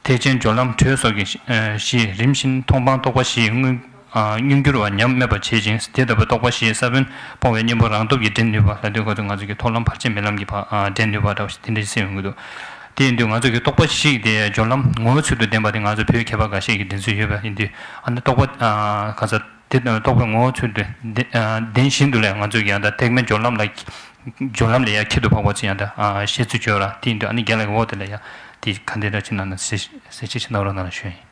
ཐེག་ཆེན་སྦྱོར་ལམ་འཕྲོས་སོ་བཞིས་རིམ་བཞིན་མཐོང་སྤང་རྟོག་པ་བཞིའི་དངོས། མྱུར་འགྱུར་བ་ཉམས་དམས་པར་བྱེད་ཅིང་དེ་ལྟ་བུའི་རྟོག་པ་ཞེས་ས་བོན་སྤོང་བའི་གཉེན་པོ་རང་སྟོབས་ཀྱིས་འདྲེན་ནུས་པ་ལ་དུས་གང་དུ་ང་ཚོས་ཀྱི་ཐོག་ལམ་བར་ཆད་མེད་ལམ་གྱི་བར་འདྲེན་ནུས་པ་འདྲ་བ་ཞིག་དེ་འདྲ་ཞིག་སེམས་ཡོང་གི་འདུག་དེ་ཡིན་དུས་ང་ཚོས་ཀྱི་རྟོག་པ་ཞིག་དེ་སྦྱོར་ལམ་ངོ་བོའི་ཚུལ་དུ་ལྡན་པ་དེ་ང་ཚོ་བོད་མཁས་པ་འགའ་ཤས་ཀྱིས་འདྲེན་སྲོལ་ཡོད་པ་ཡིན་དུས་ཨ་ན་རྟོག་པ་གང་ཟག་དེ་རྟོག་པའི་ངོ་བོའི་ཚུལ་དུ་ལྡན་བཞིན་དུ་ལས་ང་ཚོས་ཀྱི་ཡང་དག་ཐེག་མེད་སྦྱོར་ལམ་ལ་སྦྱོར་ལམ་ལས་ཡ་ཁྱད་དུ་འཕགས་པ་ཚུལ་ཡང་དག་བཤད་ཚུལ་བྱོས་ལ་དེ་ཡིན་དུས་ཨ་ནི་རྒྱ་ལ་ཡི་འོག་དེ་ལ་ཡ་དེ་ག་འདི་འདྲ་ཅིག་ནང་ན་གསལ་བྱེད་ཅིག་ནང་རོ་ནང་ན་ཞོན་ཡིན།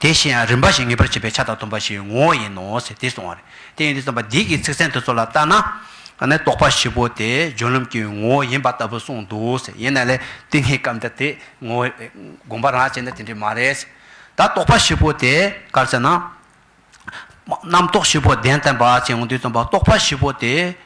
དེ་བཞིན་ཡང་རིམ་པ་བཞིན་ངེས་པར་བྱེད་པའི་ཆ་དང་མཐུན་པ་ཞིག་ངོ་བོ་ཡིན་ནོ་ཞེས་དེ་གསུང་བ་རེད། དེ་ཡིན་དུས་བརྩམས་པ་འདིས་ཀྱི་ཚིག་ཚན་དེ་ཚོ་ལ་བལྟ་ན། ནི་རྟོག་པ་བཞི་པོ་དེ་སྦྱོར་ལམ་གྱི་ངོ་བོ་ཡིན་པ་ལྟ་བུ་གསུངས་འདུག་ཟེར་ཡིན་ན་ལས་དེ་སྔའི་སྐབས་འདིར་དེ་ངོ་བོའི་དགོངས་པ་རང་བྱས་ན་དེ་འདྲས་མ་རེད། ད་རྟོག་པ་བཞི་པོ་དེ་གར་ཟེར་ན། རྣམ་རྟོག་བཞི་པོ་བདེན་བསྟན་པ་ཅེས་འོང་དུས་བརྩམས་པ་རྟོག་པ་བཞི་པོ་དེ།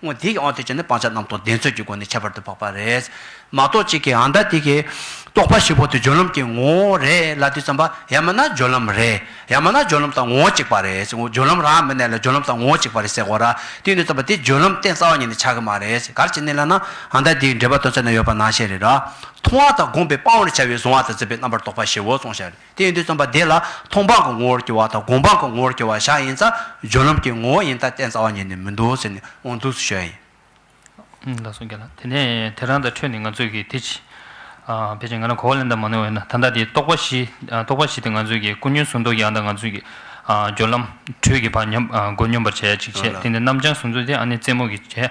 སྔོན་དེ་ཡང་དེ་བྱས་ནས་སྤང་བྱ་རྣམས་དང་བདེན་རྫུན་གྱི་སྒོ་ནས་ཁྱད་པར་དུ་འཕགས་པ་རེད། མ་རྟོགས་གཅིག་གིས་འང་ད་དེ་གའི། རྟོགས་པ་བཞི་པོ་དེ་སྦྱོར་ལམ་གྱི་ངོ་བོ་རེད་ལ་དུས་བསམ་པ་ཡང་མིན་ན་སྦྱོར་ལམ་རེད། ཡང་མིན་ན་སྦྱོར་ལམ་དང་ངོ་བོ་གཅིག་པ་རེད། སྦྱོར་ལམ་རང་མི་གནས་ལ་སྦྱོར་ལམ་དང་ངོ་བོ་གཅིག་པ་རེད་ཟེར་གོ་ར། དུས་ནས་བསམ་པ་དེ་སྦྱོར་ལམ་རྟེན་རྩ་བ་ཉིད་ནས་ཆགས་ཀྱི་མ་རེད། གར་གྱི་གནས་ལ་ན་འང་ད་དེའི་འབྲེལ་པ་དོན་ཚན་ན་ཡོད་པ་ནང་བཤད་རེད། མཐོང་བ་དང་བསྒོམས་པའི་སྤང་བར་བྱ་བའི་གཟུང་བ་དང་འཛིན་པའི་རྣམ་པར་རྟོག་པ་བཞི་བོ་གཙང་བཤད་རེད། དེས་འདི་རྩོམ་པ་འདི་ལ་མཐོང་སྤང་གི་ངོ་བོར་གྱུར་བ་དང་སྒོམ་སྤང་གི་ངོ་བོར་གྱུར་བ་བཞག་ཡིན་ཙང་སྦྱོར་ལམ་གྱི་ངོ་བོ་ཡིན་སྟབས་བསྟན་རྩ་བ་ཉིད་ནི་མི་འདུག་ཟེར་ནས་དབང་དུ་བཤོལ་ཡིན། ལ་སོགས་བརྒྱད་ལ། དེ་ནས་དེ་རང་དང་འཕྲོས་ནས་ང་ཚོས་ཀྱིས་དེ་ཕྱིས། ཕལ་ཆེར་ང་རང་གོ་བ་ལེན་ཐབས་མ་ནོར་བས་ན་ད་ལྟ་དེ་རྟོགས་པ་བཞི། རྟོགས་པ་བཞི་དེ་ང་ཚོས་ཀྱིས་ཀུན་ཉོན་གཟུང་རྟོག་གི་ཨ་དང་ང་ཚོས་ཀྱིས་སྦྱོར་ལམ། དྲོད་ཀྱི་བར་མགོ་སྙོམས་པར་བྱས་ཅིག་བྱས་དེ་ནས་རྣམ་བྱང་གཟུང་རྩོལ་དེ་ཨ་ནི་རྩེ་མོ་གི་བྱས།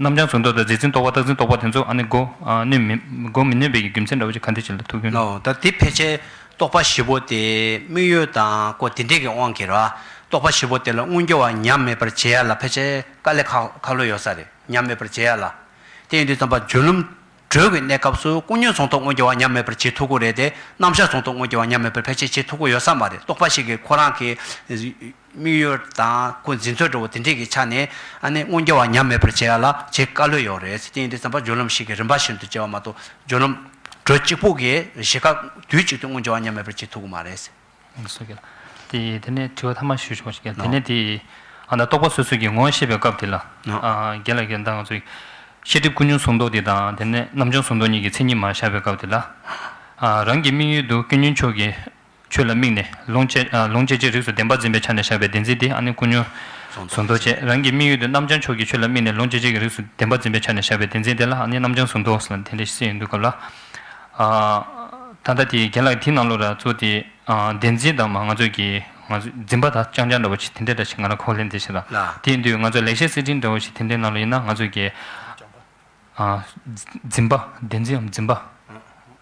རྣམ་བྱང་ཟུང་རྟོག་དང་རྫས་འཛིན་རྟོག་པ་རྟག་འཛིན་རྟོག་པ་དེ་ཚོ་ནི་སྒོ་སྒོ་མི་ནོན་པའི་རྒྱུ་མཚན་འདྲ་བོ་ཅིག་ག་འདི་ཅི་ལ་ཐུག་གིན། ལའོ། ད་དེ་ཕལ་ཆེར་རྟོག་པ་བཞི་པོ་དེ་དམིགས་ཡུལ་དང་སྒོ་དེ་འདྲས་ཀྱི་དབང་གིས་རོ། རྟོག་པ་བཞི་པོ་དེ་ལ་མངོན་གྱུར་བ་ཉམས་མེད་པར་བྱེད་ཡ་ལ་ཕལ་ཆེར་དཀའ་ལས་ཁག་ལོས་ཡོད་ས་རེད་ཉམས་མེད་པར་བྱེད་ཡ་ལ། དེ་ཡིན་དུས་ཙམ་པ་བརྗོད་ལུམ་གྲོལ་གྱི་གནས་སྐབས་སུ་སྐུ་བརྙན་ཟུང་རྟོག་མངོན་གྱུར་བ་ཉམས་མེད་པར་བྱེད་ཐུག་གི་རེད་དེ་རྣམ་བཞག་ཟུང་རྟོག་མངོན་གྱུར་བ་ཉམས་མེད་པར་ཕལ་ཆེར་བྱེད་ཐུག་གི་ཡོད་ས་མ་རེད་རྟོག་པ་ཞིག་གིས་ཁོ་རང་གི་དམིགས་ཡུལ་དང་སྐུ་འཛིན་ཚོལ་འགྲོ་བོ་དེ་འདྲས་ཀྱི་ཆ་ནས་ཨ་ནེ་སྔོན་རྒྱལ་བ་ཉམས་མེད་པར་བྱེད་ཡ་ལ་བྱེད་དཀའ་ལོས་ཡོད་རེད། དེ་ཡིན་དུས་བསམ་པ་སྦྱོར་ལམ་ཞིག་གིས་རིམ་པ་བཞིན་དུ་བྱེད་པ་མ་གཏོགས་སྦྱོར་ལམ་གྲོལ་གཅིག་པུ་གིས་བཞི་ཀ་དུས་གཅིག་ཏུ་སྔོན་རྒྱལ་བ་ཉམས་མེད་པར་བྱེད་ཐུག་གི་མ་རེད། དེ་དེ་ནས་དྲི་བ་ཐ་མ་ཞུ་ཆོག་དེ་ནས་དེ་ཨ་ན་རྟོག་པ་སོ་སོ་ཀྱི་ངོ་བོ་བཤད་པའི་སྐབས་དེ་ལ་རྒྱལ་ལ་གདངས་ཚོས་ཤེས་སྒྲིབ་ཀུན་འབྱུང་གཟུང་རྟོག་དེ་དང་དེ་ནས་རྣམ་བྱང་གཟུང་རྟོག་གཉིས་ཀྱི་མཚན་ཉིད་མ་བཞག་པའི་སྐབས་དེ་ལ་རང་གི་དམིགས་ཡུལ་དུ་སྐྱོན་ཉོན་ཕྱོགས་ཀྱི་ཆོས་ལ་དམིགས་ནས་ལུང་བཅད་ཅིང་རིགས་སུ་བདེན་པར་འཛིན་པའི་ཆ་ནས་བཞག་པའི་བདེན་འཛིན་དེ་ཨ་ནི་ཀུན་ཉོན། གཟུང་རྟོག་ཅན་རང་གི་དམིགས་ཡུལ་དུ་རྣམ་བྱང་ཕྱོགས་ཀྱི་ཆོས་ལ་དམིགས་ནས་ལུང་བཅད་བྱེད་ཀྱི་རིགས་སུ་བདེན་པར་འཛིན་པའི་ཆ་ནས་བཞག་པའི་བདེན་འཛིན་དེ་ལ་ཨ་ནི་རྣམ་བྱང་གཟུང་རྟོག་ཟེར་ལ་དེ་འདྲའི་ཤེས་ཡོན་དུ་གབ་ལ། ད་ལྟ་དེའི་རྒན་ལགས་དེའི་ནང་ལོ་ར་གཙོ་དེ་བདེན་འཛིན་དང་མ་ང་ཚོས་ཀྱི་འཛིན་པ་དག་རྐྱང་རྐྱང་འདྲ་བོ་ཞིག་དེ་འདྲའི་འདྲ་ཞིག་ང་རང་ཁོག་ལེན་དེ་བྱེད་ལ་དེའི་མདུད་ང་ཚོ་ལེགས་བཤད་གསེར་ཕྲེང་འདྲ་བོ་ཞིག་དེ་འདྲའི་ནང་ལོ་ཡིན་ན་ང་ཚོས་ཀྱི་འཛིན་པ་བདེན་འཛིན་འམ་འཛིན་པ།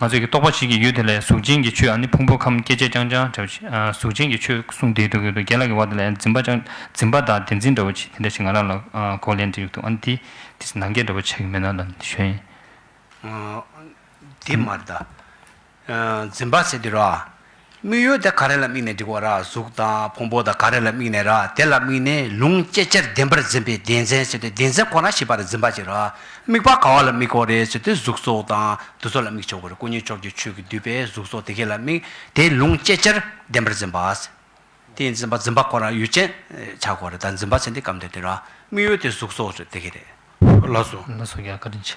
ང་ཚོས་ཀྱི་རྟོག་པ་ཞིག་གི་ཡུལ་དེ་ལས་གཟུགས་ཅན་གྱི་ཆོས་ཨ་ནི་ཕུང་པོ་ཁམས་སྐྱེ་མཆེད་རྐྱང་རྐྱང་འདྲ་བོ་ཞིག་གཟུགས་ཅན་གྱི་ཆོས་གསུངས་དེའི་འདུག་གི་འདུག་རྒྱལ་ལགས་ཀྱི་བར་དེ་ལས་འཛིན་པ་རྐྱང་འཛིན་པ་དང་བདེན་འཛིན་འདྲ་བོ་ཆེ་དེ་འདྲ་ཞིག་ང་རང་ལ་གོ་ལེན་འདྲི་ཡོད་འདུག་ཨ་ནི་དེ་དེ་ནང་འགལ་འདྲ་བོ་ཆགས་ཀྱི་མེད་ན་ལ་ཞོན། འདི་མ་གདའ། འཛིན་པ་ཟེར་དུས་ར། དམིགས་ཡུལ་དེ་ག་རེ་ལ་དམིགས་ནས་བསྒྲིགས་བ་ར་གཟུགས་དང་ཕུང་པོ་དང་ག་རེ་ལ་དམིགས་ནས་ར་དེ་ལ་དམིགས་ནས་ལུང་སྐྱེ་མཆེར་བདེན་པར་འཛིན་པའི་བདེན་འཛིན་ཟེར་ཏེ་བདེན་འཛིན་ཁོ་ན་ཞིག་པར་འཛིན་པ་ཅིག་ར་དམིགས་པ་ག་བ་ལ་དམིགས་བོ་རེད་ཟེར་ཏེ་གཟུགས་སོགས་དང་དུ་སོགས་ལ་དམིགས་ཆོག་གོ་རེ་སྐུ་ཉིད་ཕྱོགས་ཀྱི་ཆོས་ཀྱིས་བསྡུས་པའི་གཟུགས་སོགས་དེ་གས་ལ་དམིགས་དེ་ལུང་སྐྱེ་མཆེར་བདེན་པར་འཛིན་པ། དེ་འཛིན་པ་འཛིན་པ་ཁོ་ན་ཡུལ་ཅན་ཆགས་གོ་རེ་ད་འཛིན་པ་ཟེར་འདི་སྐབས་འདིར་དེ་ར་དམིགས་ཡུལ་དེ་གཟུགས་སོགས་དེ་གས་རེད། ལ་སོ། ལ་སོགས་ཀྱི་ཨ་ཀ་རིན་ཆེན།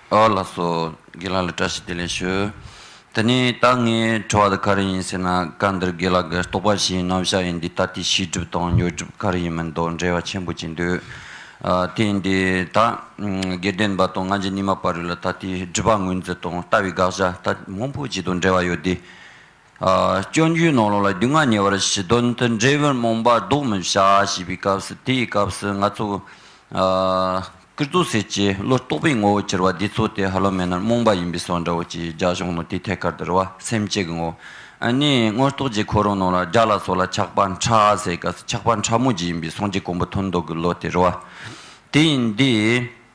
ཨ་བ་ལགས་སོ། དགེ་ལགས་ལ་བཀྲ་ཤིས་བདེ་ལེགས་ཞུ། དེ་ནས་ད་ངས་དྲི་བ་འདི་ག་རེ་ཡིན་ཟེར་ན་སྐབས་འདིར་དགེ་ལགས་ཀྱི་རྟོགས་པ་བཞིན་རྣམ་གཞག་ཡིན་འདི་ད་ལྟའི་ཤེས་སྒྲུབ་དང་ཉོ་སྒྲུབ་ག་རེ་ཡིན་མིན་དང་འབྲེལ་བ་ཆེན་པོ་ཅིག་འདུག་དེ་འདི་ད་དགེ་ལྡན་པ་དང་ང་ཅག་གཉིས་མ་བར་རིགས་ལ་ད་ལྟའི་སྒྲིབ་པ་ངོས་འཛིན་དང་ལྟ་བའི་དགག་བཞག་ད་མང་པོ་ཅིག་དང་འབྲེལ་བ་ཡོད་དེ། སྐྱོན་བརྗོད་ནང་ལོགས་ལ་རྒྱུས་མངའ་ཉེ་བར་ཞི་དོན་དུ་འབྲས་བུར་རྨོངས་པ་བཟློག་མི་བྱ་ཞེས་པའི་སྐབས་སུ་དེའི་སྐབས་སུ་ང་ཚོ། ཀིར་ཏུ་སེར་སྐྱའི་བློ་རྟོག་པའི་ངོ་བོ་གྱུར་བ་འདི་ཚོ་དེ་ཧ་ལོ་མེ་ནོར་རྨོངས་པ་ཡིན་པའི་སོགས་འདྲ་བོ་ཅིག་རྒྱ་གཞུང་ནོར་དེའི་ཐད་ཀར་དུ་རུ་བ་སེམས་བསྐྱེད་ཀྱི་ངོ་བོ། ནས་དངོས་རྟོགས་ཀྱི་ཁོ་རང་ནང་ལ་རྒྱ་ལ་སོགས་ལ་ཆགས་པ་འཕྲ་ཟེར་སྐབས་སུ་ཆགས་པ་འཕྲ་མོ་བརྒྱུད་ཡིན་པའི་གསུང་གྱི་གོང་བུ་མཐོན་མདོག་གི་བློ་དེ་རུ་བ་དེ་ཡིན་འདི།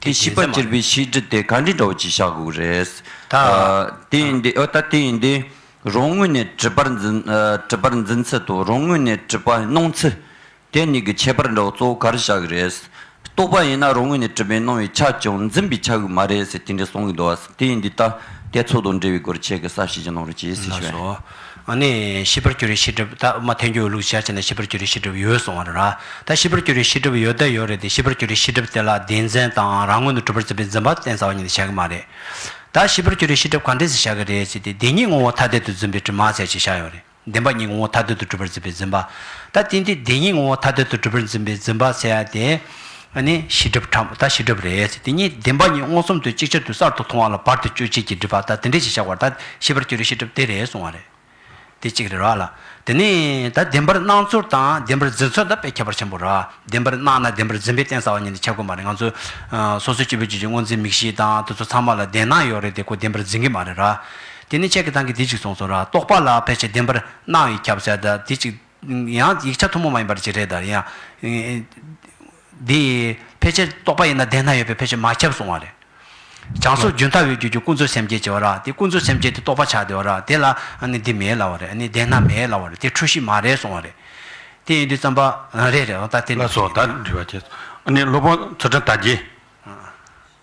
དེ་བྱིས་པ་གྱེར་པའི་ཤིས་བྲི་དེ་ག་འདྲའི་འདྲ་བོ་ཅིག་བྱ་དགོས་རེད། ད་དེ་ཡིན་དེ་ཨོ་ད་དེ་ཡིན་དེ། རང་ངོས་ནས་བྲི་བར་འཛིན། བྲི་བར་འཛིན་ཚུལ་དང་རང་ངོས་ནས་བྲི་བར་སྣང་ཚུལ། དེ་གཉིས་ཀྱི་ཁྱད་པར་འདྲ་བོ་གཙོ་བོ་ག་རེ་བྱ་གི་རེད། རྟོགས་པ་ཡིན་ན་རང་ངོས་ནས་བྲི་བའི་སྣང་བའི་ཆ་ཀྱང་འཛིན་པའི་ཆ་གི་མ་རེད་ཟེར་དེ་འདྲའི་གསུང་གི་འདུག་ཨ། དེ་ཡིན་དེ་ད་དེ་ཚོགས་དང་འབྲེལ་བའི་སྐོར་ཁྱེད་ཀྱི་བསམ་ཤེས་ཀྱི་གནང་རོགས་ཅེས་ཟེར་ཞུ་བས། ཨ་ནི། ཤི་བར་གྱུར་རིགས་ཤི་གྲབས་ད་མ་ཐོན་རྒྱུ་ལུགས་ཞར་བྱས་ན་ཤི་བར་གྱུར་རིགས་ཤི་གྲབས་ཡོད་གསུང་བ་རེད་ར། ད་ཤི་བར་གྱུར་རིགས་ཤི་གྲབས་ཡོད་ད་ཡོད་རེད་དེ་ཤི་བར་གྱུར་རིགས་ཤི་གྲབས་དེ་ལ་སྡེ་མཚན་དང་རང་ངོས་ནས་གྲུབ་པར་བརྩི་བའི་འཛིན་པ་བསྟན་ཟ་བ་ཉིད་ནས་བྱ་གི་མ་རེད། ད་ཤི་བར་གྱུར་རིགས་ཤི་གྲབས་ག་འདྲས་སུ་བྱ་གི་རེད་ཅེས་ཏེ་སྡེ་གཉིས་ངོ་བོ་ཐ་དད་དུ་འཛིན་པའི་དྲི་མ་ཚད་ཅིག་བཞག་ཡོད་རེད། བདེན་པ་གཉིས་ངོ་བོ་ཐ་དད་དུ་གྲུབ་པར་བརྩི་བའི་འཛིན་པ། ད་དེ་འདི་སྡེ་གཉིས་ངོ་བོ་ཐ་དད་དུ་གྲུབ་པར་འཛིན་པའི་འཛིན་པ་ཚད་དེ། ཨ་ནི་ཤི་གྲབས་ཁྲ་མོ་ད་ཤི་གྲབས་རེད་ཟེར་དེ་གཉིས་བདེན་པ་གཉིས་སྔོག་ཚོམ་དུ་གཅིག་ཆར་དུ་གསར་དུ་མཐོང་བ་ལ་བར་དུ་གཅོད་བྱེད་ཀྱི་སྒྲིབ་པ་ད་དེ་འདྲས་ཞིག་བཞག་བར་ད་ཤི་བར་གྱུར་རེ་ཤི་གྲབས་དེ་རེད་གསུང་བ་རེད། དེ་གཅིག་རེད་ར་ལ། དེ་ནས་ད་བདེན་པར་སྣང་ཚོར་དང་བདེན་པར་འཛིན་ཚོར་ད་དཔེ་ཁྱད་པར་ཆེན་པོ་ར། བདེན་པར་སྣང་ན་བདེན་པར་འཛིན་པའི་རྟེན་ཟ་བ་ཉིད་འདི་ཁྱབ་གི་མ་རེད་ང་ཚོ། སོ་སོའི་སྤྱི་བོའི་རྒྱུད་ཀྱི་སྔོ་འཛིན་མིག་ཤེས་དང་དེ་ཚོ་ཚང་མ་ལ་བདེན་སྣང་ཡོད་རེད་དེ་ཁོ་བདེན་པར་འཛིན་གི་མ་རེད་ར། དེ་ནས་ཁྱེད་ཀྱི་ཐང་གིས་དེ་གཅིག་གསུངས་སོང་ར་རྟོག་པ་ལ་ཕལ་ཆེར་བདེན་པར་སྣང་ཡིན་ཁྱབ་བསལ་ད་དེ་གཅིག། ཡང་ཡིག་ཆ་ཐུན་མོང་མ་ཡིན་པར་བྱེད་འབྲེལ་དང། ཡང། འདི། ཕལ་ཆེར་རྟོགས་པ་ཡིན་ན་བདེན་སྣང་ཡོད་པས་ཕལ་ཆེར་མ་ཁྱབ་གསུང་བ་རེད། བྱང་སོར་རྒྱུན་མཐའ་འོད་གྱུར་གྱི་ཀུན་རྫོབ་སེམས་བསྐྱེད་ཅེས་པ་ར་དེ་ཀུན་རྫོབ་སེམས་བསྐྱེད་དེ་རྟོགས་པ་ཆགས་བདེ་བ་ར་དེ་ལ་ནི་འདི་མེད་སླ་བ་རེད་ནི་བདེན་སྣང་མེད་སླ་བ་རེད་དེ་འཁྲུལ་གཞི་མ་རེད་གསུང་བ་རེད། དེ་ཡིན་དུས་བརྩམས་པ། རེད་རེད་ཨོ་ད་དེ་ལ་སོགས་དག་འདྲི་བར་བྱེད། ནི་སློབ་དཔོན་ཚུལ་ཁྲིམས་དར་རྒྱས།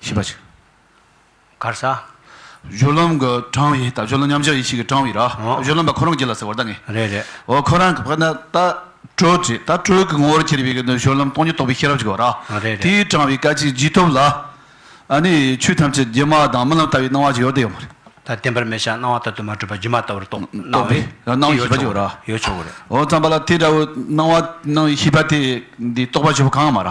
ཞེས་པ་ཅིག། གར་ས། སྦྱོར་ལམ་གྱི་གྲངས་ཡིན། སྦྱོར་ལམ་མཉམ་གཞག་ཡེ་ཤེས་ཀྱི་གྲངས་ཡིན་ར། སྦྱོར་ལམ་པ་ཁོ་རང་གྱི་ལ་ཟེར་བར་ད་ངེས། རེད་རེད། འོ་ཁོ་རང་གི་བར་ན་ད་སྤྲོས་ཀྱི་ད་སྤྲོས་ཀྱི་ངོ་བོར་གྱུར་པའི་སྦྱོར་ལམ་སྟོང་ཉིད་རྟོགས་པའི་ཤེས་རབ་ཅིག་གོ། རེད་རེད། དེའི་གྲངས་བའི་སྐད་ཅིག་ཇི་ཐོབ་ལ། ཨ་ནི་ཆོས་ཐམས་ཅད་སྒྱུ་མ་དང་རྨི་ལམ་ལྟ་བུའི་སྣང་བ་ཅིག་ཡོད་དེ་ཡོད་མ་རེད། ད་བརྟེན་པར་མི་བྱ་སྣང་བ་ལྟ་དུ་མ་གྲུབ་པ་སྒྱུ་མ་ལྟ་བུར་རྟོགས། སྣང་བའི་སྣང་བའི་ཤེས་པ་ཅིག་གོ་ར། ཡོད་ཆོག་གོ་རེད། འོ་རྩམ་པ་ལ་དེ་འདྲ་བའི་སྣང་བ་སྣང་བའི་ཤེས་པ་དེ་འདི་རྟོགས་པར་བྱེད་པ་གང་ཡང་མ་ར།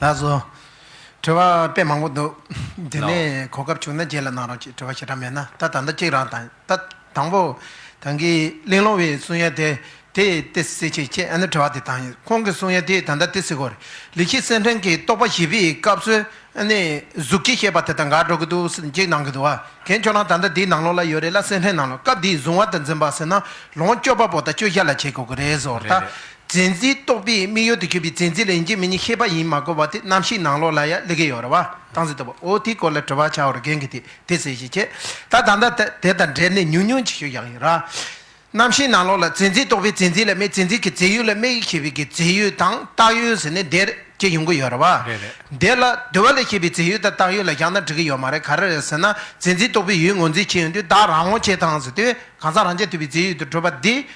ལགས་སོ། དྲི་བ་དཔེ་མང་པོ་འདུག། དེ་ནས་གོ་སྐབས་བྱུང་ན་རྗེས་ལ་གནང་རོགས་ཅེས་དྲི་བ་ཞེ་དྲག་མེད་ན་ད་ད་ལྟ་གཅིག་རང་དང་ད་དང་པོ། དང་གི་གླིང་སློང་བའི་གསུང་ཡ་དེ་དེ་ཏི་སི་ཆེ་ཁྱེད་ཨ་ནུ་དྲི་བ་དེ་དང་ཁོང་གི་གསུང་ཡ་དེ་ད་ད་ཏི་སི་གོ་རེད་ལི་ཁི་སེ་ཁྲེང་གི་རྟོགས་པ་བཞི་པའི་སྐབས་སུ་ཨ་ནི་གཟུགས་ཀྱི་ཤེས་པ་དེ་དང་འགའ་འགྲོ་གི་འདུག་སེ་འཇིག་གནང་གི་འདུག་བ་གན་ཁྱོད་རང་ད་ད་དེའི་ནང་ལོགས་ལ་ཡོད་རེད་ལ་སེ་ཁྲེང་ནང་ལོགས་སྐབས་དེའི་བཟུང་བ་དང་འཛིན་པ་ཟེར་ན་ལོངས་སྤྱོད་པ་པོ་དང་སྤྱོད་བཞག་ལ་བྱེད་དགོས་གི་རེད་ཟོ་རེད། རྫས་འཛིན་རྟོག་པའི་དམིགས་ཡུལ་དུ་གྱུར་པའི་རྫས་འཛིན་ལ་ཡིན་གྱི་མིན་གྱི་ཤེས་པ་ཡིན་མ་གོ་བ་དེ་རྣམ་ཤེས་ནང་ལོགས་ལ་ཡང་ལི་གེ་ཡོད་རེད་བ་དང་ཟེར་ལྟ་བུ་འོ་དེའི་སྐོར་ལ་དྲི་བ་བྱ་བར་རྒན་གྱིས་དེ་དེ་ཟེར་ཞེས་བྱས་ད་ད་ལྟ་དེ་དང་འབྲེལ་ནས་ཉུང་ཉུང་ཅིག་ཤོད་ཡག་ཡིན་རྣམ་ཤེས་ནང་ལོགས་ལ་རྫས་འཛིན་རྟོག་པའི་རྫས་འཛིན་ལ་དམིགས་རྫས་འཛིན་གྱི་རྫས་ཡུལ་ལ་དམིགས་ཞེས་པའི་གི་རྫས་ཡུལ་དང་བཏགས་ཡུལ་ཟེར་ནས་འདིར་ཅིག་ཡོང་གི་ཡོད་རེད་བ། འདི་ལ་བསྡུ་བ་ལས་ཤེས་པའི་རྫས་ཡུལ་དང་བཏགས་ཡུལ་ལ་བཞག་ན་འགྲིག་གི་ཡོད་མ་རེད་ག་རེ་རེད་ཟེར་ན་རྫས་འཛིན་རྟོག་པའི་ཡུལ་ངོས་འཛིན་བྱེད་ཡོང་དུས་བདག་རང་ངོ་ཆེ་དང་ཟེར་དུས་གང་ཟག་རང་ཆེ་ཐུབ་པའི་རྫས་ཡུལ་དུ་གྲུབ་པ་འདི་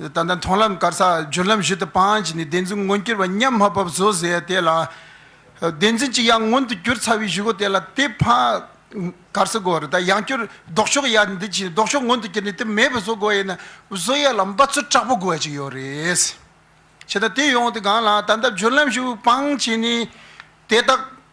ད་ལྟ་མཐོང་ལམ་དཀར་ས་བརྗོད་ལམ་བཞི་དུ་སྤངས་བྱས་ནས་བདེན་འཛིན་མངོན་གྱུར་པ་མཉམ་མ་བབས་བཟོ་ཟེར་ཡང་དེ་ལ། བདེན་འཛིན་གྱི་ཡང་མངོན་དུ་གྱུར་ཚར་བའི་གཞུག་གོ་དེ་ལ་དེ་ཕངས། དཀར་ས་གོ་རེ་ད་ཡང་བསྐྱུར་ལྡོག་ཕྱོགས་ཡ་འདི་བྱས་ནས་ལྡོག་ཕྱོགས་མངོན་དུ་གྱུར་ནས་དེ་མེད་པར་བཟོ་དགོས་ཡས་ན་བཟོ་ཡ་ལ་འབའ་ཚུལ་དྲག་པོ་དགོས་ཀྱི་ཡོད་རེད། བྱས་ན་དེ་ཡོང་དེ་གང་ལ་ད་ལྟ་བརྗོད་ལམ་བཞི་པོ་སྤངས་བྱས་ནས་དེ་དག།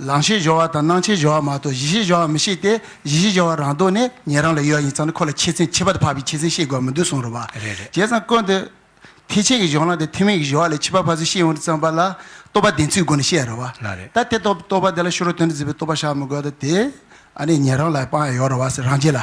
ལང་ཤེས་སྦྱོར་བ་དང་སྣང་ཆའི་སྦྱོར་བ་མ་གཏོགས་གཞི་ཤེས་སྦྱོར་བ་མི་ཤེས་ཏེ་གཞི་ཤེས་སྦྱོར་བ་རང་ལྡོག་ནས་ཉན་རང་ལ་ཡོད་ཡིན་ཙང་ནི་ཁོ་ལ་ཆེད་ཚན་ཁྱད་པར་དུ་འཕགས་པའི་ཆེད་ཚན་ཤེས་དགོས་པ་མི་འདུག་གསུངས་རོགས་པ། རེད་རེད། བྱས་ཙང་དཀོན་ཏེ། ཐེག་ཆེན་གྱི་གཞུང་ལ་དེ་ཐུན་མིན་གྱི་སྦྱོར་བ་ལས་ཕྱི་པ་ཕ་ཚུལ་ཤེས་ཡོངས་འདུ་ཙམ་པ་ལ་རྟོག་པ་བདེན་ཚུལ་སྒོ་ནས་བཤད་རོགས་པ། ལ་རེད། ད་དེ་རྟོག་པ་དེ་ལ་ཤོར་བ་དོན་དུ་འཛིན་པའི་རྟོག་པ་བཞག་མི་དགོས་ད་དེ། ཨ་ནི་ཉན་རང་ལ་དཔང་ཡག་ཡོད་རོགས་པ་སེ་རང་རྗེས་ལ།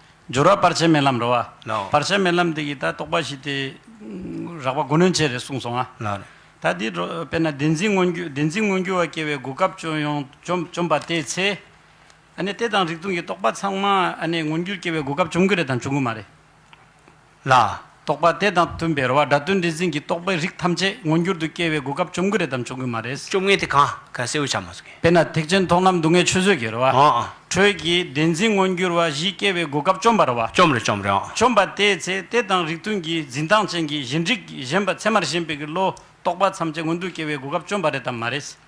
སྦྱོར་བ་བར་ཆད་མེད་ལམ་འགྲོ་བ། བར་ཆད་མེད་ལམ་འདི་ཡི་ད་རྟོགས་པ་བཞི་སྟེ། རགས་པ་དགུ་ནོན་བྱེད་རེ་གསུངས་སོང་ང། ད་འདི་དཔེར་ན་བདེན་འཛིན་མངོན་རྒྱུ་བདེན་འཛིན་མངོན་རྒྱུ་བ་སྐྱེ་བའི་དགུ་སྐབས་སྤྱོད་ཡོངས་བཅོམ་པ་དེའི་ཚེ། ཨ་ནི་དེ་དང་རིགས་མཐུན་གྱི་རྟོགས་པ་ཚང་མ་ཨ་ནི་མངོན་རྒྱུར་སྐྱེ་བའི་དགུ་སྐབས་བཅོམ་རྒྱུ་རེད་དམ་བྱུང་གི་མ་རེད། ལ། རྟོག་པ་དེ་དང་མཐུན་པའི་རོ་བ་སྒྲ་དོན་འདྲེས་འཛིན་གྱི་རྟོག་པའི་རིགས་ཐམས་ཅད་མངོན་གྱུར་དུ་སྐྱེ་བའི་གོ་སྐབས་བཅོམ་གི་རེད་དམ་བཅོམ་གི་མ་རེད། བཅོམ་ངེས་དེ་གང་ག་གསལ་བོ་ཆ་མ་ཟུག་གི། དཔེར་ན་ཐེག་ཆེན་མཐོང་ལམ་སྡུག་བསྔལ་ཆོས་བཟོད་ཀྱི་རོ་བ། དྲོད་ཀྱི་བདེན་འཛིན་མངོན་གྱུར་བ་བཞི་སྐྱེ་བའི་གོ་སྐབས་བཅོམ་པ་རོ་བ། བཅོམ་རེད་བཅོམ་རེད། བཅོམ་པ་དེའི་ཚེ་དེ་དང་རིགས་མཐུན་གྱི་འཛིན་སྟངས་ཅན་གྱི་གཞན་རིག་གཞན་པ་ཚད་མར་ཞེན་པའི་གི་བློ་རྟོག་པ་ཐམས་ཅད་མངོན་དུ་སྐྱེ་བའི་གོ་སྐབས་བཅོམ་པ་རེད་དམ་མ་རེད།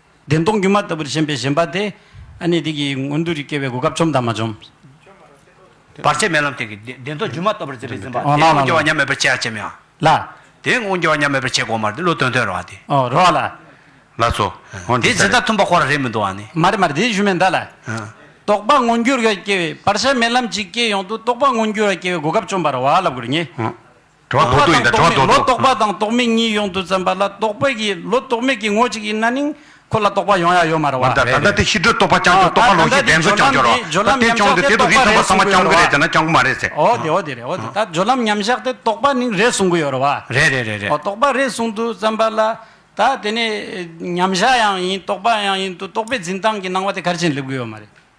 བདེན་སྟོང་སྒྱུ་མ་ལྟ་བུར་ཞེན་པའི་ཞེན་པ་དེ། ཨ་ནི་དེ་གིས་མངོན་དུ་རིག་སྐྱེ་བའི་གོ་སྐབས་བཅོམ་དང་མ་བཅོམ། བར་ཆད་མེད་ལམ་དེ་གིས་བདེན་སྟོང་སྒྱུ་མ་ལྟ་བུར་འཛིན་པའི་འཛིན་པ། དེའི་དབང་སྐྱེ་བ་ཉམས་མེད་པར་བྱེད་ཡང་བྱེད་མི་ཡང། ལ། དེའི་དབང་སྐྱེ་བ་ཉམས་མེད་པར་བྱེད་དགོངས་མར་དེ་བློ་དོན་དོན་རོ་བ་དེ། ཨོ་རོ་བ་ལ། ལ་སོ། འོན་དེ་ཇི་ལྟར་མཐུན་པ་ཁོ་ར་རེད་མི་འདུག་ཨ་ནི། མ་རེད་མ་རེད་དེ་གཞུ་མེད་མདའ་ལ། རྟོགས་པ་མངོན་འགྱུར་བར་སྐྱེ་བའི་བར་ཆད་མེད་ལམ་ཅིག་སྐྱེ་ཡོང་དུ་རྟོགས་པ་མངོན་འགྱུར་བར་སྐྱེ་བའི་གོ་སྐབས་བཅོམ་པར་བ་ལབ་དགོས་རེད་ངེས། གྲོགས་པོ་དང་རྟོག་མེད་ལོ་རྟོག་པ་དང་རྟོག་མེད་གཉིས་ཡོང་དུ་བཙན་པ་ལ་རྟོག་པའི་གི་ལོ་རྟོག་མེད་ཀྱི་ངོ་གཅིག་ཡིན་ན་ནིང་ཁོ་ལ་རྟོག་པ་ཡོང་ཡ་ཡོད་མ་རེད་བ། ད་ལྟ་དེ་ཕྱི་དྲོའི་རྟོག་པ་རྐྱང་རྐྱང་རྟོག་པ་ལོགས་ཤིག་བདེན་འཚོལ་རྐྱང་རྐྱང་རོགས། ད་དེ་རྐྱང་དེ་དེ་དུ་རིས་ཐབས་པ་ཚང་མ་རྐྱང་གི་རེད་ཟེར་ན་རྐྱང་གི་མ་རེད་ཟེར། འོ་དེ་འོ་དེ་རེད་འོ་དེ་ད་སྦྱོར་ལམ་མཉམ་བཞག་དེ་རྟོག་པ་ནིང་རེད་གསུང་གི་ཡོད་རེད་བ། རེད་རེད་རེད་རེད། རྟོག་པ་རེད་གསུང་དུ་བཙན་པ་ལ་ད་དེ་ནས་མཉམ་བཞག་ཡང་ཡིན་རྟོག་པ་ཡང་ཡིན་དུ་རྟོག་པའི་འཛིན་སྟངས་ཀྱི་སྣང་བ་དེ་གར་ཕྱིན་སླེབས་གི་ཡོད་མ་རེད།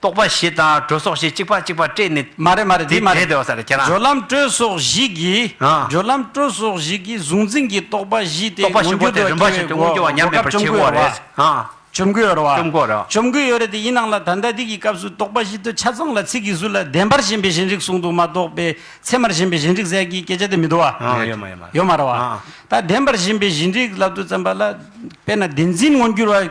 རྟོག་པ་ཞེས་དང་དྲོད་སོགས་ཞེས་གཅིག་པ་གཅིག་པ་སྤྲད་ནས། མ་རེད་མ་རེད་དེ་མ་རེད། སྦྱོར་ལམ་དྲོད་སོགས་བཞི་གིས། སྦྱོར་ལམ་དྲོད་སོགས་བཞི་གིས་གཟུང་འཛིན་གྱི་རྟོག་པ་བཞི་སྟེ་མངོན་རྟོག་པ་བཞི་པོ་དེ་རིམ་པ་བཞིན་དུ་མངོན་འགྱུར་བ་ཉམས་མེད་པར་བྱེད་དགོས་པ་རེད། བཅོམ་མགོན་ཡོད་རེད་བ། བཅོམ་མགོན་ཡོད་རེད་བ། བཅོམ་མགོན་ཡོད་རེད་དེ་ཡིན་ནམ་ལ་ད་ལྟ་འདི་གི་སྐབས་སུ་རྟོག་པ་བཞི་དོ་ཆ་ཚང་ལ་ཚིག་གིས་གཟུགས་ལ་བདེན་པར་ཞེན་པའི་ཞེན་རིག་གསུང་དུ་མ་གཏོགས་པའི་ཚད་མར་ཞེན་པའི་ཞེན་རིག་ཟད་ཀྱི་སྐད་ཆ་དེ་མི་འདུག་བ། ཡོད་མ་ཡོད་མ་རེད། ཡོད་མ་རེད་བ། ད་བདེན་པར་ཞེན་པའི་ཞེན་རིག་ལབ་ཏུ་བརྩམས་པ་ལ་དཔེར་ན་བདེན་འཛིན་མངོན་འགྱུར་བ།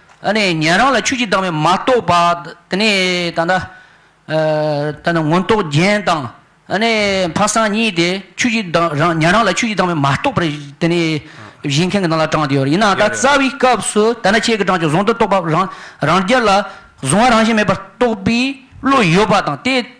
ཨ་ནི་ཉན་རང་ལ་ཆོས་ཀྱི་བདག་མེད་མ་རྟོགས་པ། དེ་ནས་ད་ནི། ད་ནི་མངོན་རྟོགས་རྒྱན་དང། ཨ་ནི་འཕགས་སངས་གཉིས་ཏེ་ཆོས་ཀྱི་བདག་རང་ཉན་རང་ལ་ཆོས་ཀྱི་བདག་མེད་མ་རྟོགས་པར་དེ་ནི། བཞེངས་མཁན་གྱི་ནང་ལ་དྲངས་ཏེ་ཡོད་རེད་ཡིན་ནའང་ད་རྩ་བའི་སྐབས་སུ་ད་ནི་ཁྱེད་ཀྱི་དྲངས་ཀྱི་གཟུང་དུ་གཏོགས་པ་རང་རྒྱལ་ལ། གཟུང་བ་རང་བཞིན་མེད་པར་རྟོགས་པའི་བློ་ཡོད་པ་དང་དེ།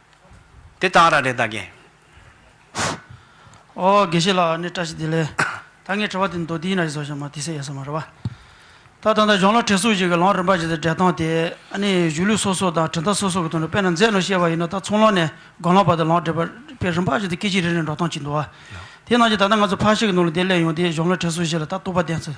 དེ་ལྟར་ར་རེ་ད་གེ། ཨོ་དགེ་བཤེས་ལགས་ཨ་ནི་བཀྲ་ཤིས་བདེ་ལེགས། ད་ངས་དྲི་བ་དེ་མདོ་དེའི་ན་རེ་བཟོ་བཞག་མ་དེ་སེ་ཡས་སོ་མ་རེད་བ། ད་ད་ལྟ་གཞོང་ལ་བྲེལ་སོང་ཞིག་གི་ལོང་རིམ་པ་བཞིན་དུ་འབྲས་ཐོང་དེ་ཨ་ནི་གཞུ་ལུད་སོ་སོ་དང་གྲི་མདའ་སོ་སོ་གི་དོན་དུ་པད་ན་མཛེས་ནོ་ཤེས་པ་ཡིན་ནོ་ད་ཚོང་ལོང་ནས་སྒོ་ལང་བར་དུ་ལོང་བྲེལ་བས་རིམ་པ་བཞིན་དུ་སྐད་ཅིག་རེ་རེར་འགྲོ་སྟངས་ཀྱིས་འདུག་བ། དེ་ནང་བཞིན་ད་ལྟ་ང་ཚོ་ཕར་ཞིག་གི་ནང་ལ་དེ་སླེབས་ཡོང་དེ་གཞོང་ལ་བྲེལ་སོང་ཞིག་ལ་ད་ལྟོགས་པ་བསྟེན་ཚུལ་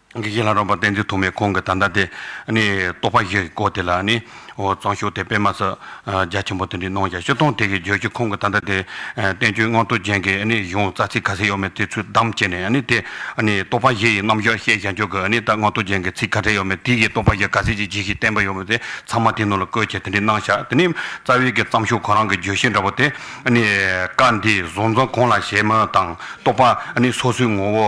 ཀྱི་གཞི་ལྷ་རམས་པ་བསྟན་འཛིན་ཐོགས་མེད་ཁོང་གི་ད་ལྟ་དེ་ནི་རྟོགས་པ་བཞི་གི་སྐོར་དེ་ལ་ནི། གཙང་ཤུགས་དེ་སྤེལ་མ་ས་རྒྱ་ཆེན་པོ་དེ་འདྲའི་གནང་བྱ་ཤི་སྟོང་དེ་གི་རྗོད་ཀྱི་ཁོང་གི་ད་ལྟ་དེ་བསྟན་བཅོས་མངོན་རྟོགས་ཅན་གི་གཞུང་རྩ་ཚིག་ག་ཚད་ཡོད་མེད་དེ་ཚུལ་བདམས་བྱས་ནས་ནི་དེ་རྟོགས་པ་བཞི་ཡི་རྣམ་གཞག་བཤད་བྱ་མཆོག་གི་ནི་ད་མངོན་རྟོགས་ཅན་གི་ཚིག་ག་ཚད་ཡོད་མེད་དེ་གི་རྟོགས་པ་བཞི་ག་ཚད་ཅིག་ཇི་ཞིག་བསྟན་པ་ཡོད་མེད་དེ་ཚང་མ་དེ་ནང་ལ་བཀོད་བྱས་དེ་འདྲའི་སྣང་བཞག་དེ་ནི་རྩ་བའི་གི་གཙང་ཤུགས་ཁོ་རང་གི་བརྗོད་གཞི་འདྲ་བོ་དེ་ནི་བཀའ་འདི་བཟོ་འཛོམས་གོང་ལ་བཞེད་མོད་དང་རྟོགས་པ་ནི་སོ་སོའི་ངོ་བོ་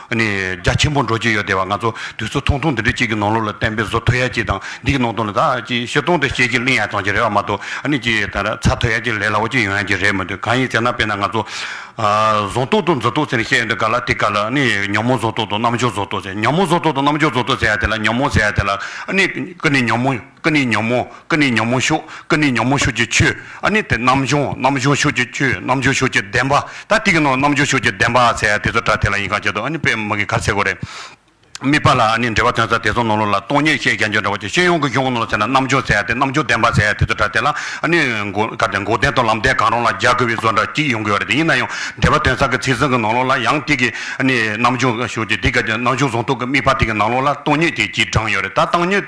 ནི་རྒྱ་ཆེན་པོ་འགྲོ་གྱི་ཡོད་དེ་བ་ང་ཚོ་དུས་ཚོད་ཐུང་ཐུང་འདི་འདྲ་གཅིག་གི་ནང་ལོགས་ལ་བསྟན་པའི་བཟོ་ཐོ་ཡ་གཅིག་དང་འདི་གི་ནང་དོན་ལ་ད་ཅི་བཤད་སྟོང་དུ་བཤད་ཀྱི་གླིང་ཡ་ཙང་གྱི་རེད་བ་མ་གཏོགས་ནི་ཅི་ད་ར་ཚ་ཐོ་ཡ་གཅིག་ལས་ལ་བ་གཅིག་ཡོང་ཡ་གྱི་རེད་མི་འདུག་གང་ཡིན་ཟེར་ན་དཔེར་ན་ང་ཚོ་བཟོ་ཐོ་དང་མཛོ་ཐོ་ཟེར་ནས་བཤད་ཡོད་འདུག་ག་ལ་དེ་ག་ལ་ནི་ཉོན་མོངས་བཟོ་ཐོ་དང་རྣམ་འབྱོར་བཟོ་ཐོ་ཟེར་ཉོན་མོངས་བཟོ་ཐོ་དང་རྣམ་འབྱོར་བཟོ་ཐོ་ཟེར་ཡ་དེ་ལ་ཉོན་མོངས་ཟེར་ཡ་དེ་ལ་ནི་ཀུན་ནས་ཉོན་མོངས། ཀུན་ནས་ཉོན་མོངས་ཀུན་ནས་ཉོན་མོངས་ཤུགས་ཀུན་ནས་ཉོན་མོངས་ཤུགས་ཀྱི་ཆོས་ཨ་ནི་དེ་རྣམ་བྱུང་རྣམ་བྱུང་ཤུགས་ཀྱི་ཆོས་རྣམ་བྱུང་ཤུགས་ཀྱི་བདེན་པ་ད་ཏིག་ནོ་རྣམ་བྱུང་ཤུགས་ཀྱི་བདེན་པ་ཨ་ཚད་དེ་ཚོ་དྲ་དེ་ལ་ཡིན་གང་བྱེད་དོ་ཨ་ནི་པའི་མིག་གི་གར་ཚེ་གོ་རེ། དམིགས་པ་ལ་ཨ་ནི་འབྲེལ་བ་དོན་ཚ་དེ་ཚོ་ནོར་ལུགས་ལ་སྟོང་ཉེར་བཤད་རྒྱ་འགྱུར་འདྲ་བ་ཀྱི་ཤེས་ཡོང་གི་གཞུང་ནོར་ཚད་ན་རྣམ་བྱུང་ཚད་དེ་རྣམ་བྱུང་བདེན་པ་ཚད་དེ་ཚོ་དྲ་དེ་ལ་ཨ་ནི་གར་དེ་འགོག་བདེན་དང་ལམ་བདེན་གང་རུང་ལ་རྒྱག་དགོས་པའི་བཟོ་འདྲ་གཅིག་ཡོང་གི་ཡོ་རེ་དེ་ཡིན་ན་ཡང་འབྲེལ་བ་དོན་ཚ་གི་ཚིག་ཟིན་གི་ནང་ལུགས་ལ་ཡང་ཏིག་གི་ཨ་ནི་རྣམ་བྱུང་ཤུགས་ཀྱི་དེ་ག་རྣམ་བྱུང་ཟུང་རྟོག་གི་དམིགས་པ་ཏིག་གི་ནང་ལུགས་ལ་སྟོང་ཉེར་བརྒྱད་ཀྱིས་བགྲངས་ཡོ་རེ་ད་སྟོང་ཉེར།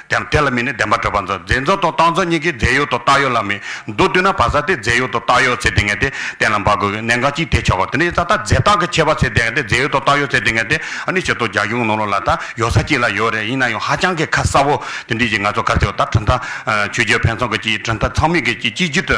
ཀྱང་དེ་ལ་མིན་ནི་བདེན་པར་གྲུབ་པ་མཛོད། རྫས་མཛོད་དང་རྟགས་མཛོད་གཉིས་ཀའི་རྫས་ཡུལ་དང་རྟགས་ཡུལ་ལ་མི་འདུ་བལྟོས་ན་བ་ས་སྟེ་རྫས་ཡུལ་དང་རྟགས་ཡུལ་ཚེ་འདི་ངེས་ཏེ་གཏན་ལ་འབབ་དགོས་གི་གནད་འགག་གཅིག་དེས་ཆོག་གོ། དེ་ནས་ཡོད་ས་ཐག་རྫས་རྟགས་ཀྱི་ཁྱད་པར་ཚེ་འདི་ངེས་ཏེ་རྫས་ཡུལ་དང་རྟགས་ཡུལ་ཚེ་འདི་ངེས་ཏེ་ཨ་ནི་ཆེ་མཐོང་རྒྱ་ཁྱོན་ནོར་ལུག་ལ་ད་ཡོད་ས་གཅིག་ལ་ཡོད་རེད་ཡིན་ན་ཡང་ཧ་ཅང་གི་ཁ་གསབ་བོ། དེ་འདྲའི་གཞི་ང་ཚོ་གར་བྱེད་པ་ད་གྲུབ་མཐའ། ཆོས་རྒྱལ་ཕན་ཚུན་གྱི་གཅིག་གྲུབ་མཐའ་ཚང་མིག་གི་གཅིག་གཅིག་གྱུར་དུ།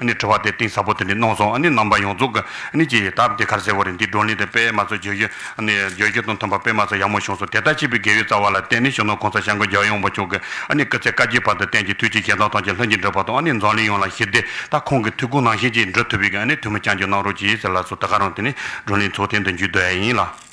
ནི་དྲི་བ་དེ་གཏིང་ཟབ་པོ་དེ་ནི་གནང་སོང་ནི་རྣམ་པ་ཡོངས་རྫོགས་ནི་ཅི་ད་དེ་གར་གསལ་བོ་རེད་འདི་བགྲོ་གླེང་དེ་དཔེ་མ་ཚོ་བརྗོད་རྒྱུ་ནི་བརྗོད་རྒྱུ་དང་མཐུན་པ་དཔེ་མ་ཚོ་ཡག་མོ་བྱུང་སོང་དེ་ལྟར་བྱས་པའི་དགེ་བའི་རྩ་བ་ལ་བརྟེན་ནས་གཞོན་ནུ་གོང་ས་ཞང་གི་རྒྱལ་ཡོངས་བུ་ཕྱོགས་ཀྱི་ནི་སྐུ་ཚེ་བསྐལ་བརྒྱའི་བར་དུ་བསྟན་ཅིང་ཐུགས་ཀྱི་ཞལ་གདངས་ཐང་ཆེན་ལྷུན་གྱིས་འགྲུབ་པ་དང་ནི་འཛམ་གླིང་ཡོངས་ལ་ཞི་བདེ་དང་ཁོང་གི་ཐུགས་དགོངས་ནང་བཞིན་ཅིག་འགྲུབ་ཐུབ་པའི་ནི་དུས་མི་བསྐྱང་རྒྱུ་གནང་རོགས་གྱིས་ཟེར་ལགས་སོ་ད་ག་རང་དེ་ནི་བགྲོ་གླེང་ཚོགས་ཐེངས་དང་བརྒྱུད་འདུག་ཨེ་ཡིན་ལགས།